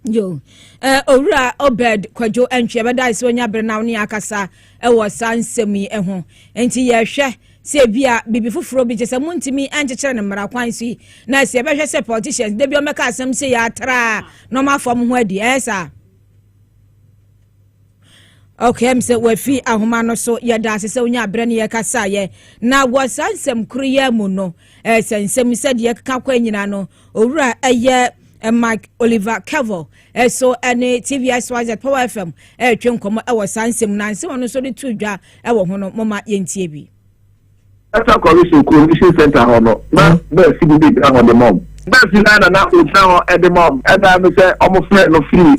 Yo, eh, Owura Obed Kwadwo Antwi, ɛbɛda sɛ onya bere na wo ne akasa wɔ saa nsɛm yi ho. Enti yɛhwɛ sɛ ebi a bibi foforɔ bi gye sɛ montumi nkyekyere no mmara kwan so yi na sɛ yɛbɛhwɛ sɛ politicians da bi ɔmɛka asɛm sɛ yɛatraa na ɔmafa mo ho adi ɛyɛ saa Okay, sɛ wafi ahoma no so yɛda ase sɛ wonya berɛ ne yɛkasaeɛ na wɔ saa nsɛm koro yi mu no eh, sɛ nsɛm sɛdeɛ ɛkeka kɔ nyinaa no owura ɛyɛ eh, mike oliver kevo eh, so ne tvsyz power fm ɛretwe nkɔmmɔ wɔ saa nsɛm no anse wɔn nso de to dwa wɔ ho no moma yɛntie bi Data Collision Coalition Center hɔ no, na nɛɛse bi bɛgyina hɔ de ma wɔn. Nɛɛse no ara na na ɔgyina hɔ de ma wɔn. Ɛnna no sɛ wɔfrɛɛ no firii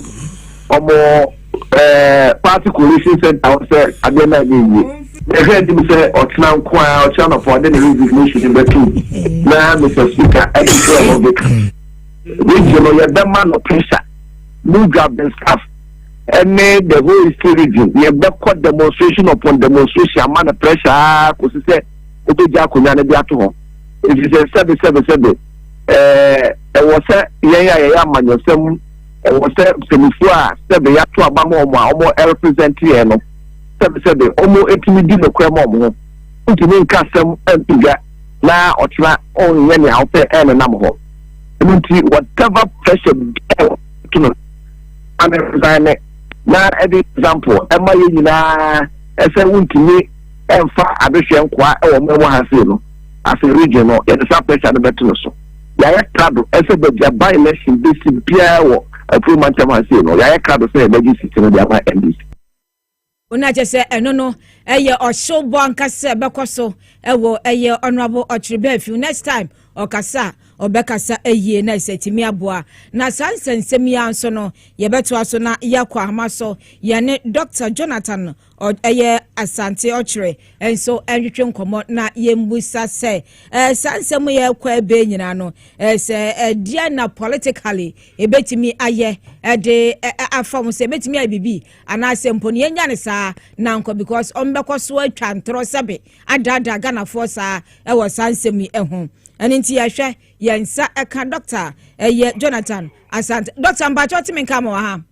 wɔn Party Coalition Center hɔ sɛ adeɛ no anyɛ yie. Yɛhwɛ anim sɛ ɔkyena nko ara, ɔkyena anɔpa, ɔde ne resignation no bɛtom na Mister Speaker de kyerɛ wɔn bɛka. Reggie no, yɛbɛma no pressure, Mudra Benscaf. ɛne the whole hysterism, yɛbɛkɔ demonstration upon demonstration ama no pressure ara kɔsi sɛ wobɛgya akonnwa no de ato hɔ. Ɛfiri sɛ sɛbe sɛbe sɛbe ɛwɔ sɛ yɛn a yɛyɛ amanyɔsɛm ɛwɔ sɛ mpanimfoɔ a sɛbe yɛato aba ma wɔn a wɔn represent yɛn no sɛbe sɛbe wɔn ɛtumi di nokorɛ ma wɔn ho ntumi nka asɛm mpagya na ɔkyena ɔnyɛ nea wopɛ ɛnenam hɔ ɛno nti whatever pressure biara to no amesan ne na ɛde example ɛma yɛn nyinaa ɛsɛ wontumi ɛmfa adehwɛ nkoa ɛwɔ mo ɛwɔ ha sei no afei region no yɛde saa pressure no bɛto no so yɛayɛ krado ɛsɛ baabi a by election bɛsi biara wɔ afuro mantam ha sei no yɛayɛ krado sɛ yɛbɛgye sisi no de ama ndc Ona kyerɛ sɛ ɛno no ɛyɛ ɔhyew bɔ ankasa sɛ ɛbɛkɔ so ɛwɔ ɛyɛ Honourable Ɔkyereba Afiw next time ɔkasa a ɔbɛkasa yie na ɛsɛ tumi aboa na saa nsɛnsɛm yi ara nso no yɛbɛtoa so na yɛakɔ ahoma so yɛne Doctor Jonathan ɔ ɛyɛ Asante Ɔkyere nso ɛnhwehwɛ nkɔmmɔ na yɛmbusa sɛ ɛɛ saa nsɛm yɛ ɛkɔ ɛbɛɛ nyinaa no ɛɛ sɛ ɛdeɛ na politically ɛbɛtumi ayɛ ɛde afa ho sɛ ɛbɛtumi ayɛ biribi anaasɛ mpo no yɛnya no saa nankɔ because ɔmbɛkɔ so atwa ntorɔ sɛbe adaadaa ghanafoɔ saa ɛwɔ saa nsɛm yi ho ɛno nti yɛhwɛ yɛn nsa ɛka dɔkta ɛyɛ jonathan asante dɔkta mpakyɛ ɔteme nka ma wɔ ha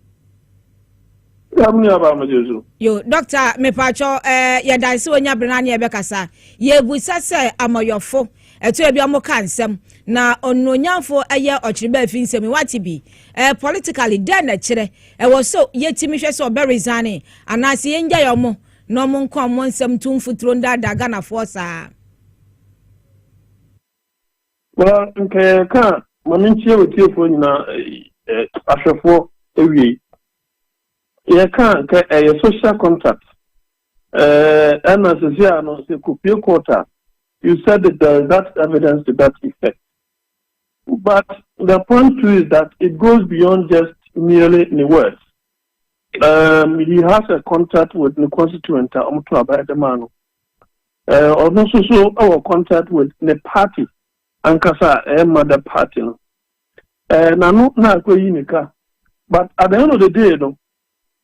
yo dɔkta mepaakyɛw eh, yɛdanse wɔnya bere no ane yɛbɛkasa yɛbusa sɛ amɔyɔfo Ɛto ebi ɔmo ka nsɛm na onuonyamfo ɛyɛ ɔkyereba efi nsɛm yi wate bi ɛɛ politically dɛn na ɛkyerɛ ɛwɔ so yɛtumi hwɛ sɛ ɔbɛ resign anaasɛ yɛn gyae ɔmo na ɔmo nka ɔmo nsɛm ntu mfuturo ndaadaa Ghanafoɔ saa. Well nka yɛ ka ma me nkyia wɔ tiefoɔ nyinaa ɛɛ ahwɛfoɔ ewie yɛ ka nka ɛyɛ social contact Eh, ɛna sisi a no sɛ kopie court a, you said it there is that evidence to that effect. But the point too is that it goes beyond just merely the words. Um, he has a contact with the constituent a wɔn to aba ɛde maa no. Ɔno nso so wɔ contact with the party ankasa a ɛma the party no. N'ano na akɔyi ne ka. But at the end of the day no,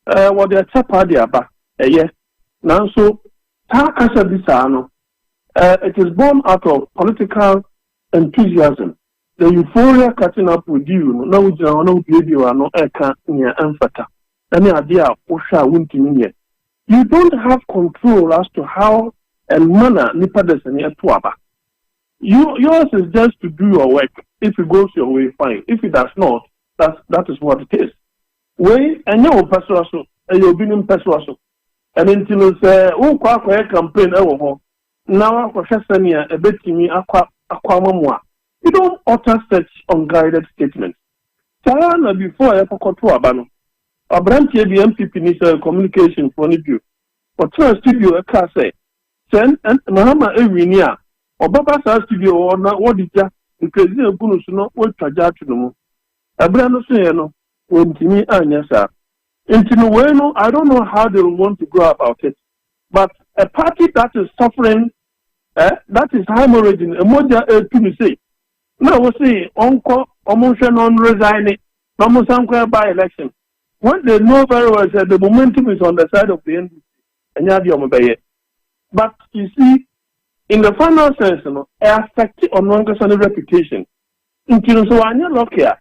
Ɛɛ, wɔde ɛkyɛ paa de aba. Ɛyɛ. Nanso, saa kasa bi saa no, ɛɛ, it is born out of political enthusiasm, the euphoria catching up with you no, na wogyina hɔ na wobuebue w'ano reka nea ɛmfata, ɛne ade a wohwɛ a wontumi nyɛ. You don't have control as to how and manner nipa dasani ɛto aba. You, yours is just to do your work, if it goes your way, fine, if it does not, that's, that is what it is. Wei ɛnyɛ wo mpɛsoa so, ɛyɛ obi no mpɛsoa so. Ɛno nti no sɛ worekɔ akɔyɛ campaign ɛwɔ hɔ na woakɔhwɛ sɛnea ɛbɛtumi akɔ akɔ ama mo a, you don't utter such unguided statements. Saa ara na before a yɛkɔkɔto aba no, abranteɛ bi, NPP ni sɛ communication foɔ no bio, ɔtenaa studio ɛkaa sɛ sɛ Mahama ɛwini a, ɔbɛba saa studio hɔ na wɔde gya, nkrezin agu no so na wɔatwa gya ato no mu. Ɛberɛ no soeɛ no, wɔntumi anyɛ saa. Nti no wei no, I don't know how they want to go about it, but a party that is suffering, eh, that is haemorrhaging, mogya retu no sei, na wose ɔnkɔ, wɔn nhwɛ no, ɔnresigne, na wɔn nsa nkɔ ɛba election, when they know very well sɛ the momentum is on the side of the NDC, ɛnyɛ adeɛ wɔn bɛyɛ. But you see, in the final sense no, ɛyɛ affect ɔno ankasa ne reputation. Nti no sɛ wanyɛ lucky a,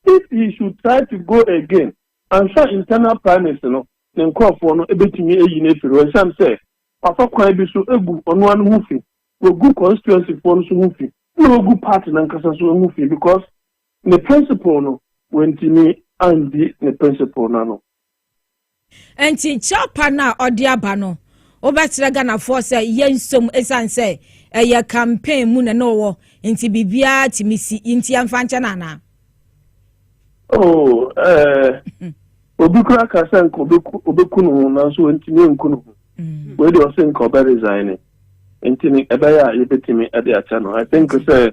if he should try to go again ansa internal primaries no, ne nkorɔfoɔ no bɛtumi ayi no afiri hɔ ɛsiane sɛ wafa kwan bi so agu ɔno ara ne ho fi, wagu constituency foɔ no nso ho fi, ɛna wagu party no ankasa nso ho fi because ne principle no, wantumi andi ne principle no ano. Ɛnti kyɛwpa no a ɔde aba no wobɛkyerɛ Ghanafoɔ sɛ yɛnsom ɛsiane sɛ ɛyɛ campaign mu na na ɔwɔ nti biribiara tumi si nti yɛmfa nkyɛ no anaa? Oh, eh, obi kura ka sɛ nka ɔbɛku ne ho nanso ɔntumi nku ne ho mm. wei deɛ ɔse nka ɔbɛ resign ne nti ne ɛbɛyɛ a yɛbɛtumi de akyɛ no I think sɛ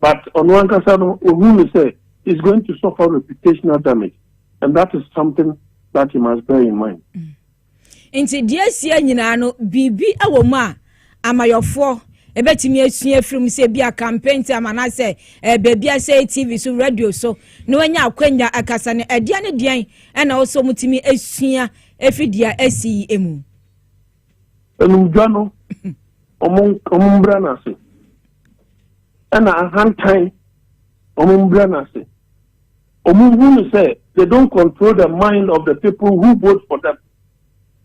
But ɔno ankasa no ohu no sɛ he's going to suffer reputational damage and that is something that he must bear in mind. Mm. Nti deɛ asia nyinaa no biribi wɔ mu a amayɔfoɔ ɛbɛtumi asua afiri mu sɛ bi a campaign time anaasɛ eh, baabi asɛ tv so radio so na wanya akwanya akasa no ɛdeɛ ne deɛn ɛna ɔsɛ ɔmotumi asua ɛfiri deɛ asi yi mu animdwa no wɔn mbra n'ase ɛna ahantan wɔn mbra n'ase wɔn hu no sɛ they don't control the mind of the people who vote for them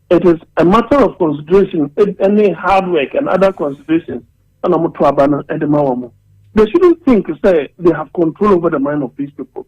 it is a matter of consideration any hard work and other considerations ɛna wɔn to aba no ɛde ma wɔn they shouldn't think say they have control over the mind of these people.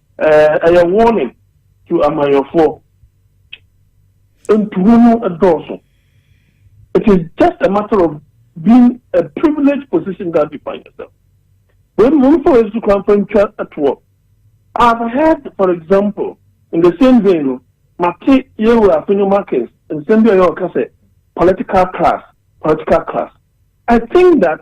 Eh ɛyɛ warning to amayɔfoɔ. Ntuho no dɔɔso. It is just a matter of being a privileged position that you find yourself. Wei mu nfa wei so kwan fa ntwa toɔ. I have heard for example in the same vein no mate yɛwura Afenyo Markins nsɛm bi a ɔyɛ ɔka sɛ political class political class. I think that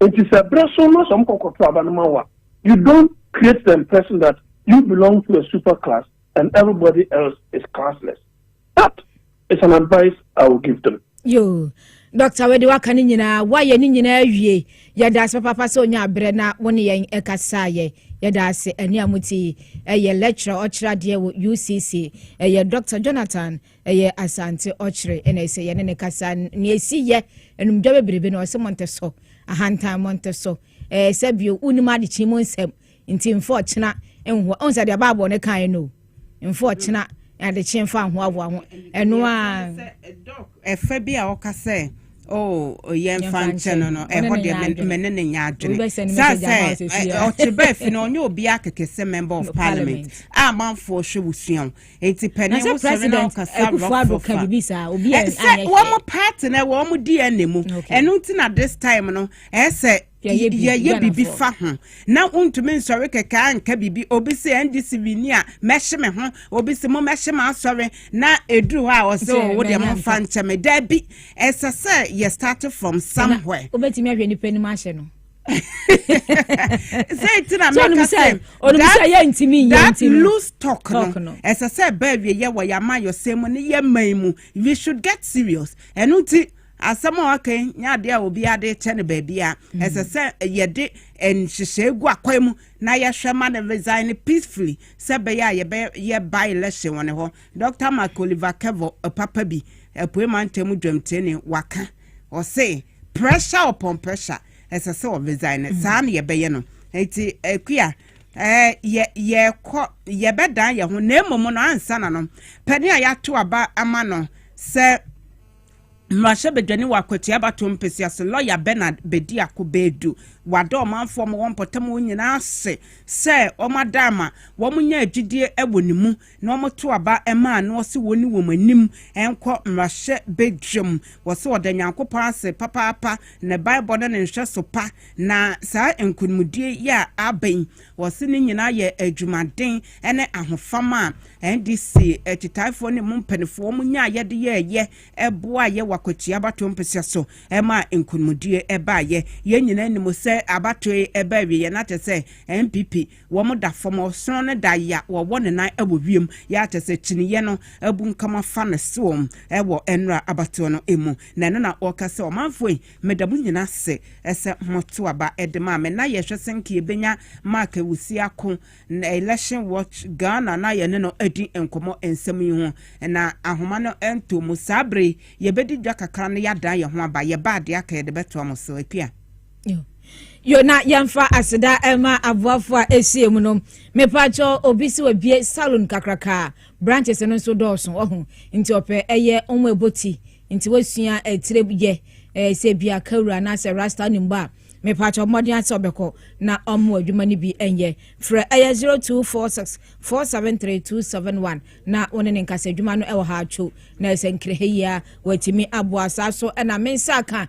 Enti sɛ bere so na sɛ wɔkɔ kɔto aba no ma wo a, you don't create the impression that you belong to a super class and everybody else is classless. That is an advice I will give them. Yoo, Dɔkta Wedi waka ne nyinaa, woayɛ ne nyinaa awie. Yɛda ase papaapa sɛ onya abrɛ na wo ne yɛn kasaeɛ. Yɛda ase ani a mo ti ɛyɛ lecturer ɔkyerɛ adeɛ wɔ UCC ɛyɛ Dɔkta Jonathan Ɛyɛ Asante ɔkyere na ɛsɛ yɛne ne kasa nea ɛsi yɛ anumdwa bebrebe na ɔsɛ monte so ahantan monte so ɛɛ sɛ bio wonim adekye mu nsɛm nti mfa ɔkyena nhoa ɔhu sɛ deɛ baabɔ ne kan no mfa ɔkyena adekye mfa ahoahoa ho ɛno a ɛfa bi a ɔka sɛ oh yɛn fa nkyɛn no no ɛhɔ deɛ mɛ ne ne nya adwene saa sɛ ɔkyerɛ bɛɛ fi no ɔnyɛ obi akɛkɛ sɛ member of parliament a manfoɔ hwɛ wosua nti pɛne wo sɔre na ɔkasa rɔfofa sɛ wɔn party na ɛwɔ wɔn dna mu ɛno nti na this time no ɛsɛ yɛyɛ biribi fa ho na wontumi nsɔre kɛkɛ anka biribi obi sɛ ndc wini a mɛhye me ho obi sɛ mo mɛhye ma asɔre na ɛduru hɔ a ɔsɛ ɔwo oh, deɛ momfa nkyɛ me daabi ɛsɛ sɛ yɛ start from somewhere wobɛtumi ahwɛ nipa anim ahyɛ no sɛ nti na mɛka sɛ that loose talk no ɛsɛ sɛ ɛbɛ awieyɛ wɔ yɛn amayɔsɛm mu ne yɛn man mu we should get serious ɛno nti asɛm a ɔka yi nyɛ adeɛ a obi ade kyɛ no baabi a mm. ɛsɛ sɛ yɛde nhyehyɛe gu akwan mu na yɛhwɛ ma no resign peacefully sɛ bɛyɛ a yɛbɛyɛ by election wɔ ne hɔ dr mark oliver kevo papa bi apue mantam dwamtini waka Ɔse pressure upon pressure ɛsɛ sɛ wɔ resign no saa na yɛbɛyɛ no nti akua ɛɛ yɛ yɛkɔ yɛbɛdan yɛ ho na mmom no ansa na no pɛne a yɛato aba ama no sɛ mmarahyɛ badwani wɔ akwatua bato mpesua so lɔya Bernard bɛdi ako bɛɛdu wada ɔmanfoɔ ma wɔn mpɔtam wɔn nyinaa ase sɛ wɔn ada ama wɔn nya agyidie wɔ ne mu na wɔto aba ma a na ɔse wɔnni wɔn anim nkɔ mmarahyɛ badwam. Wɔse ɔda Nyankopɔn ase papaapa ne baebɔ ne ne nhwɛso pa na saa nkonimdie yi a aba yi wɔse ne nyinaa yɛ adwumaden ne ahofama a NDC akyitaefoɔ ne mu mpaninfoɔ wɔn nyaeɛ de yɛɛyɛ boaeɛ wɔ akwatia abatoɔ mpesua so ma nkonimdie baeɛ. Yɛn nyinaa nim sɛ abatoɔ yi ɛbaa awieɛ na kyerɛ sɛ NPP Wɔn da fam hɔ, sono no da ya wɔwɔ ne nan wɔ wiem ya kyɛ sɛ kyiniiɛ no abunkam afa ne soɔ wɔ nwura abatoɔ no mu. Na ɛno na ɔka sɛ, Ɔmanfoɔ yi, meda mo nyina ase sɛ moto aba de maa me. Na yɛhwɛ sɛ nka yɛbɛnya Mark Awusi ako na Election Watch Ghana na yɛne no adi nkɔmmɔ nsɛm yi ho. Na ahoma no ntoo mu. Saa berɛ yi, yɛbɛdi dwa kakra na yɛadan yɛn ho aba. Yɛba a, deɛ aka yɛde bɛtoa mo so. Akua. yo na yɛmfa aseda ɛma aboafo a ɛsie mu no mepakyɛ obi si wabie salon kakraka branches no nso dɔɔso ɔho nti ɔpɛ ɛyɛ ɔmo ɛbɔ ti nti wasua ɛtire eh, yɛ eh, sɛ bia kawura anaasɛ rasta ne mbɔ a mepakyɛ mmɔden asɛ ɔbɛkɔ na ɔmo adwuma no bi ɛnyɛ frɛ ɛyɛ 0246 473271 na wo ne ne nkasa adwuma no ɛwɔ ha atwo na ɛsɛ nkireheyia watumi aboa saa so ɛna mensa ka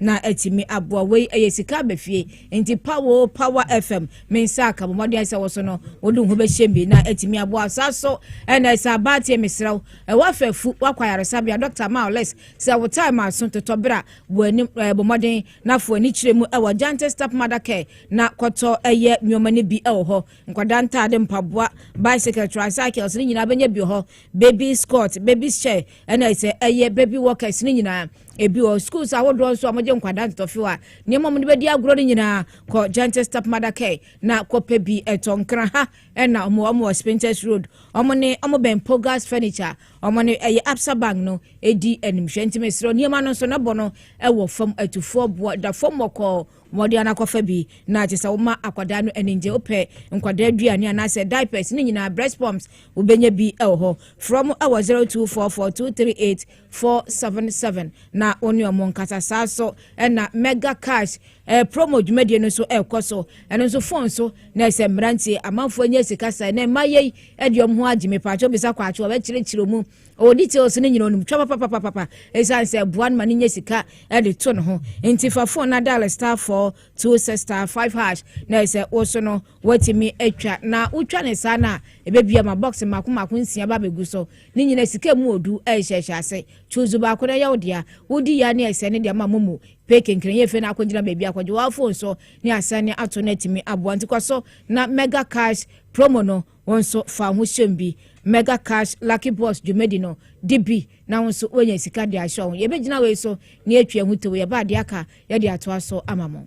na atumi aboa wei ɛyɛ sika aba fie nti pawo power fm me nsa aka bɔ mmɔden sɛ wɔso no wode ho bɛhyɛ bi na atumi aboa saa so ɛna ɛsɛ abaateɛ mesrɛ wo ɛwɔ afɛfu wakɔ ayaresabea dɔkta ma ɔlɛs sɛ wo time aso totɔ berɛ a bɔ anim ɛɛ bɔ mmɔden na fo ani kyerɛ mu ɛwɔ gyante step mother care na kɔtɔ ɛyɛ nneɛma no bi ɛwɔ hɔ nkwadaa ntaade mpaboa bicycle tricycles ne nyinaa bɛnya bi wɔ hɔ baby scott baby chair ɛna ɛsɛ ɛyɛ baby walkers ne nyinaa Ebi wɔ schools ahodoɔ nso a wɔgye nkwadaa ntɔfew a nneɛma wɔn de bɛdi agorɔ no nyinaa kɔ Gentle Stepmother Care na kɔpɛ bi ɛtɔ nkran ha ɛna wɔn wɔn wɔ Spintex Road wɔn ne wɔn bɛn Pogas Furniture wɔn ne ɛyɛ Absa Bank no edi animhwɛ nti mesrɛ nneɛma no nso nɛbɔ no ɛwɔ fam atufoɔ boɔ da fam wɔkɔɔ wɔde anakɔfa bi na kyɛ sɛ wɔma akwadaa no ani ngye wopɛ nkwadaa aduane anaasɛ diapers ne nyinaa breast pumps wobɛnya bi ɛwɔ hɔ frɛ mo ɛwɔ 0244 238 four seven seven na wɔn ne wɔn nkasa saa so ɛna mega cash ɛɛ eh, promo dwumadie no nso ɛrekɔ eh, so ɛno nso phone so na ɛsɛ mmeranteɛ amanfoɔ nyɛ sika sɛ na mma yɛ ɛde wɔn ho agye me paatwo bisa kwaatwo ɔbɛkyerɛkyerɛ mu ɔwɔ details no nyina ɔnum twa papapapapa ɛsiane sɛ ɛboa no ma no nyɛ sika ɛde eh, to ne ho nti fa phone na dial star four two six star five hash na ɛsɛ wɔso no wɔatumi atwa na wotwa ne saa no a ɛbɛbia ma box mako mako nsia ba bɛgu so Ne nyinaa sika mu odu a ɛhyɛ hyɛ ase. To nsu baako na ɛyɛ wo dea. Wodi ya ne asiane de ama mo mu. Pɛ kenkrɛn yɛ fɛ na akogyina baabi akɔgye wo iPhone so ne asiane ato no atumi aboa. Nti kɔ so na Mega Cash promo no wo nso fa wo ho hyem bi. Mega Cash Lucky Box dwumadi no di bi na wo nso woanya sika de ahyɛ wo ho. Yɛbɛgyina wei so na yɛatwi ahu tow. Yɛba a deɛ aka yɛde atoa so ama mo.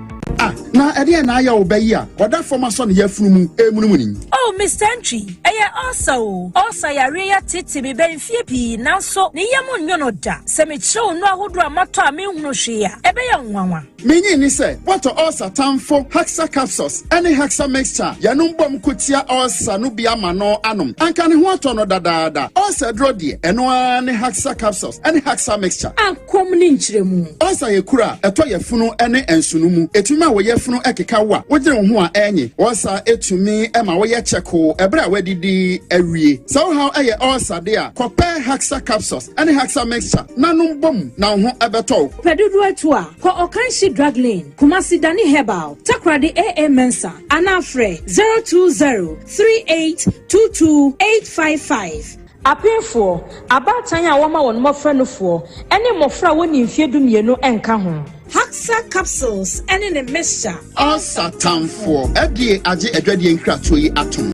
Ah, na ɛdeɛn na ayɛ wo bɛ yi a ɔda fam asɔ ne yafunu mu ɛremunumuni yi? Oh, Mister Ntwi, ɛyɛ ɔɔsa o. Ɔɔsa yareɛ yi atete me bɛn mfeɛ pii nanso ne yam nnwo no da. Sɛ mekyerɛ wo nnuro ahodoɔ a matɔ a menhunu hwee a, ɛbɛyɛ wo nwanwa. Menyee ne sɛ woatɔ ɔɔsa tamfo Haxa capsules ne Haxa mixture a yɛnom bom ko tia ɔɔsa no bi ama no anom. Anka ne ho atɔ no dadaada. Ɔɔsa aduro deɛ, ɛno ara ne Haxa capsules ne Haxa mixture. Komm ne nkyerɛmu. Ulcer yɛ kuru a ɛtɔ yafunu ne nsono mu. Ɛtumi ma wo yafunu keka wo a wogyere wo ho a ɛrenye. Ulcer tumi ma woyɛ kyɛkoo bere a woadidi awie. Sɛ wo haw yɛ ulcer de a, kɔpɛ Haxa capsules ne Haxa mixture na nom bom na wo ho bɛtɔ wo. Pɛ dodoɔ atu a, kɔ Ɔkanhye Drug Lane, Kumasi Dani Herbal, Takoradi AA Mensah anaa frɛ 0203822855. Apenfoɔ, abaatan a wɔma wɔn mmɔfra nufoɔ, ne mmɔfra a wɔnni mfeɛ dumienu nka ho. Haxa capsules ne ne mixture. Ulcer tamfoɔ, FDA agye adwadie nkratoɔ yi atom.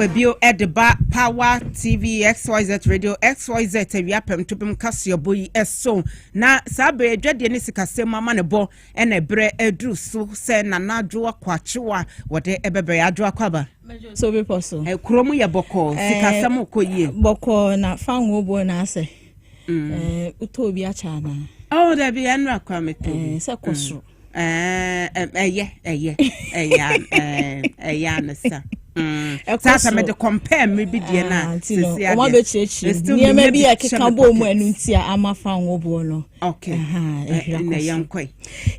aba bio de ba power tv xyz radio xyz awia pɛm tobem kaseɛbɔ yi so na saa bɛyɛ adwadeɛ ne sikasɛm ama ne bɔ Ɛna berɛ aduru so sɛ Nana Adwo Akwaakyew a wɔde bɛbrɛ yɛ Adwo Akwaba. So bepɔ so. Kuro mu yɛ bɔkɔɔ, sikasɛm kɔ yie. Bɔkɔɔ na fa ngo bɔ na asɛ. Wotɔ obi akyɛ anaa? Oh, dabi ɛnura kwa metɔ obi. Sɛ kɔ soro. Ɛyɛ, ɛyɛ, ɛyɛ, ɛyɛ anasa. Mm. saa sɛ mede compare mmere bi deɛ no a ah, sɛsi adeɛ wɔn abɛkyerɛkyerɛ nneɛma bi a ɛkeka bɔɔ mu ɛno nti a ama fa nwoboɔ no okay ɛnna yɛn kɔe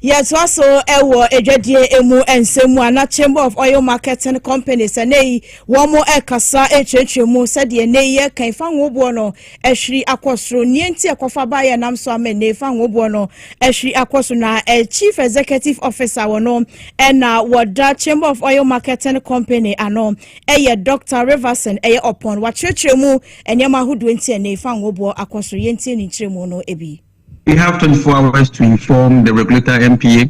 yɛtoa so ɛwɔ adwadie emu nsɛm mu ana chamber of oil marketing companies ɛnɛ yi wɔn ɛkasa ɛkyerɛkyerɛ mu sɛdeɛ ɛnɛ yi yɛka fa nwoboɔ no Ahwiri akɔ soro. Nea enti a ɛkɔfa baeɛ a ɛnam so ama ɛnnɛ yi fa ho boɔ no, ahwiri akɔ so, na eh, Chief Executive Officer wɔ no ɛna wɔda Chamber of Oil Marketing Company ano ɛyɛ Dr. Riverson ɛyɛ ɔpɔn. Wakyerɛkyerɛ mu nneɛma ahodoɔ nti ɛnnɛ yi fa ho boɔ akɔ soro. Yɛntie ne nkyerɛmu no bi. We have 24 hours to inform the regulator MPA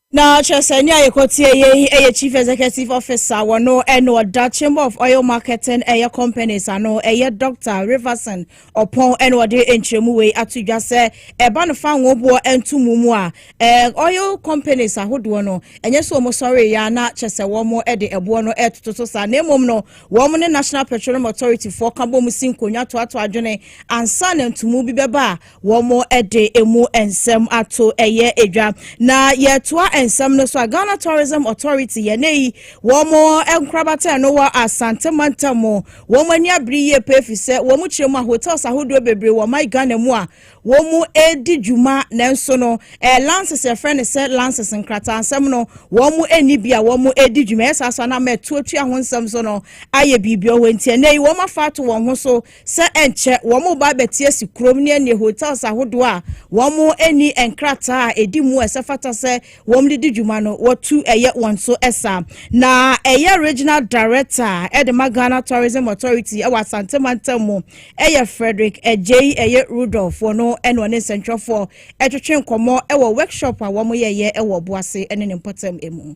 Na kyerɛ sɛ nea yɛkɔteɛ yɛ yi yɛ chief executive officer wɔ no ɛna ɔda chamber of oil marketing ɛyɛ companies ano ɛyɛ Dr. Riverson Ɔpɔn ɛna ɔde nkyerɛmu wei ato dwa sɛ ɛba no fa nwoboɔ nto mu mu a ɛɛ oil companies ahodoɔ no ɛnyɛ sɛ wɔn sɔre ya na kyɛ sɛ wɔn de ɛboɔ no ɛtoto so saa na mmom no wɔn ne National Petroleum Authority foɔ ka bɔ mu si nkonnwa toatoa adwene ansa na ntomu bi bɛba a Wɔde emu nsɛm ato ɛyɛ dwa. Na yɛtoa nsɛm no so a, Ghana Tourism Authority, yɛn ɛyi, wɔn nkorabata no wɔ Asante mantam, wɔn ani abere yie paa efisɛ wɔn kyerɛ mu a hotels ahodoɔ bebree wɔ ɔman Ghana mu a wɔredi dwuma nanso no ɛɛ lances yɛfrɛ no sɛ lances nkrataasɛm no wɔnni bi a wɔredi dwuma ɛyɛ saa so a na ama ɛtoatua ho nsɛm so no ayɛ biribi wɔ hɔ nti ɛnɛ yi wɔafa ato wɔn ho so sɛ ɛnkyɛ wɔreba abɛte asi kurom ne ɛnneɛ hotels ahodoɔ a wɔnni nkrataa a ɛdi mu a ɛsɛ fata sɛ wɔde di dwuma no wɔtu ɛyɛ wɔn so ɛsa na ɛyɛ regional director ɛde ma Ghana Tourism Authority ɛwɔ Asante mantam mu ɛyɛ Frederick Agyei ɛyɛ Rudolph wɔ no ɛne ɔne nsɛntwerɛfoɔ ɛtwetwe nkɔmmɔ ɛwɔ workshop a wɔyɛyɛ ɛwɔ Boase ɛne ne mpɔtam ɛmu.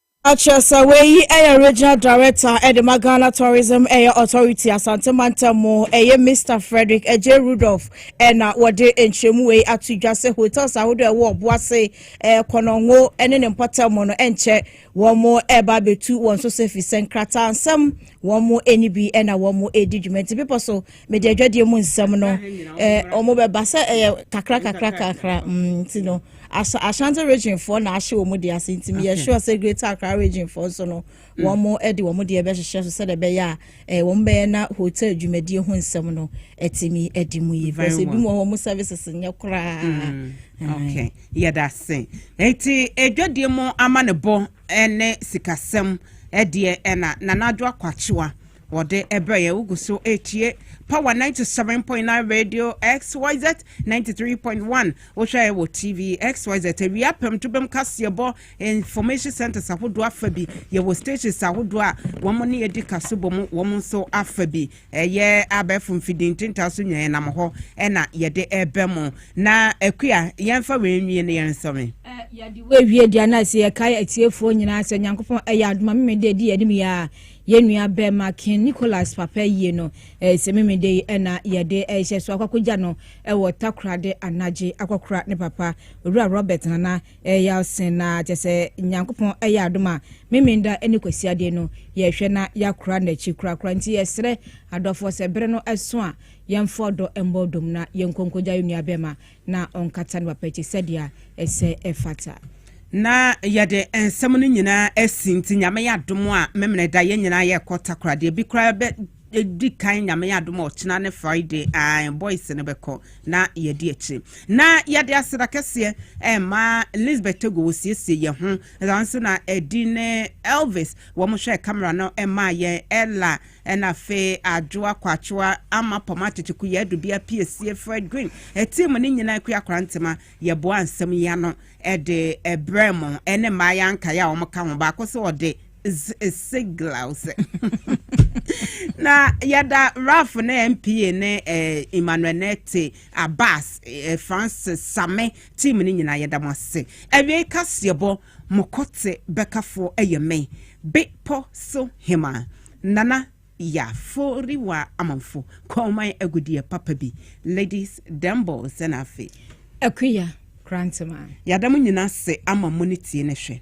Patrick Sarwey yi yɛ Regional Director de ma Ghana Tourism Authority Asante Mantam mu. Ɛyɛ Mister Frederick Adjei Rudolph na wɔde nkyerɛmu wei ato dwa sɛ hotels ahodoɔ a ɛwɔ Ɔboase, Kɔnɔngo ne ne mpɔtam no nkyɛ wɔreba abɛtu wɔn so sɛ ɛfiri sɛ nkrataasɛm wɔn ani bi na wɔredi dwuma nti bepɔ so mede adwadeɛ mu nsɛm no wɔn bɛba sɛ ɛyɛ kakra kakra kakra mm, nti no ashanti region foɔ na ahyɛ wɔn deɛ ase nti meyɛ sure sɛ greater accra region foɔ nso no mm. wɔn de wɔn deɛ bɛhyehyɛ so sɛdeɛ ɛbɛyɛ a wɔn bɛyɛ na hotel dwumadie ho nsɛm no ɛtumi ɛdi mu yie because ebi mu wɔn services nyɛ koraa. Mm. okay yɛda ase eti adwadie mu ama ne bɔ ɛne sikasɛm ɛdeɛ ɛna nanadwo akwakyewa. Wɔde brɛ yɛn, wogu so etie Power ninety seven point nine Radio XYZ ninety three point one. Wohwɛ wɔ TV XYZ awia pɛm to bɛm kaseɛbɔ information centers ahodoɔ afa bi. Yɛwɔ stations ahodoɔ a wɔn ne yɛdi kaso bɔ mu, wɔn nso afa bi. Ɛyɛ abɛɛfo mfidie ntintaa so nyaa yɛnam hɔ ɛna yɛde ɛbɛ mo. Na akua yɛmfa wei nwie ne yɛn nsɔme. Yɛde wei wie deɛ na sɛ yɛkae atiefoɔ nyinaa sɛ Nyankopɔn ɛyɛ adoma memede adi yɛnim yɛ a Yɛn nua bɛɛma King Nicholas papa yie no, eh, sɛ memede yi ɛna yɛde ɛhyɛ so akwakogya no ɛwɔ Takorade anagye akwakora ne papa Owura Robert Nana eh, Yalsen na kyɛ sɛ Nyankopɔn ɛyɛ adom a Memeneda ɛne Kwasiadeɛ no yɛhwɛ na yɛakora n'akyi korakora nti yɛsrɛ adɔfoɔ sɛ bere no ɛso a yɛmfa ɔdɔ mbɔ dom na yɛnkɔ nkogya yɛn nua bɛɛma na ɔnkata ne papa akyi sɛdeɛ ɛsɛ ɛfata. Na yɛde nsɛm no nyinaa asi nti nyame yɛ adom a memene da yɛn nyinaa yɛkɔ takora deɛ bi koraa bɛ di kan nyame adom ɔkyena ne friday a boys no bɛkɔ na yɛdi akyire na yɛde aseda kɛseɛ ɛma lisbeth togo wɔsiesie yɛ ho ɛsan so na ɛdi ne elvis wɔn hwɛ camera no ɛma yɛn ɛla Ɛna afei adwo akwakyewa ama pɔm atete ku yɛ dubia pie sie frɛ dwen ɛtii mo ne nyina akua kora ntema yɛ boa nsɛm yi ano ɛde ɛbrɛ mo ɛne mmaa yɛ ankae a wɔn ka ho baako sɛ ɔde siglau sɛ na yɛda raf ne mpa ne emmanuel ne te abas francis same team ne nyina yɛda mo ase awie kaseɛbɔ Mo kɔte bɛkafoɔ yɛ me, be pɔ so hemaa, Nana ya fori wa amanfo kɔman agudeɛ papa bi, ladies dem boys ɛna afe. Akuya Kranteman. Yada mo nyina ase ama mo ne tie ne hwɛ.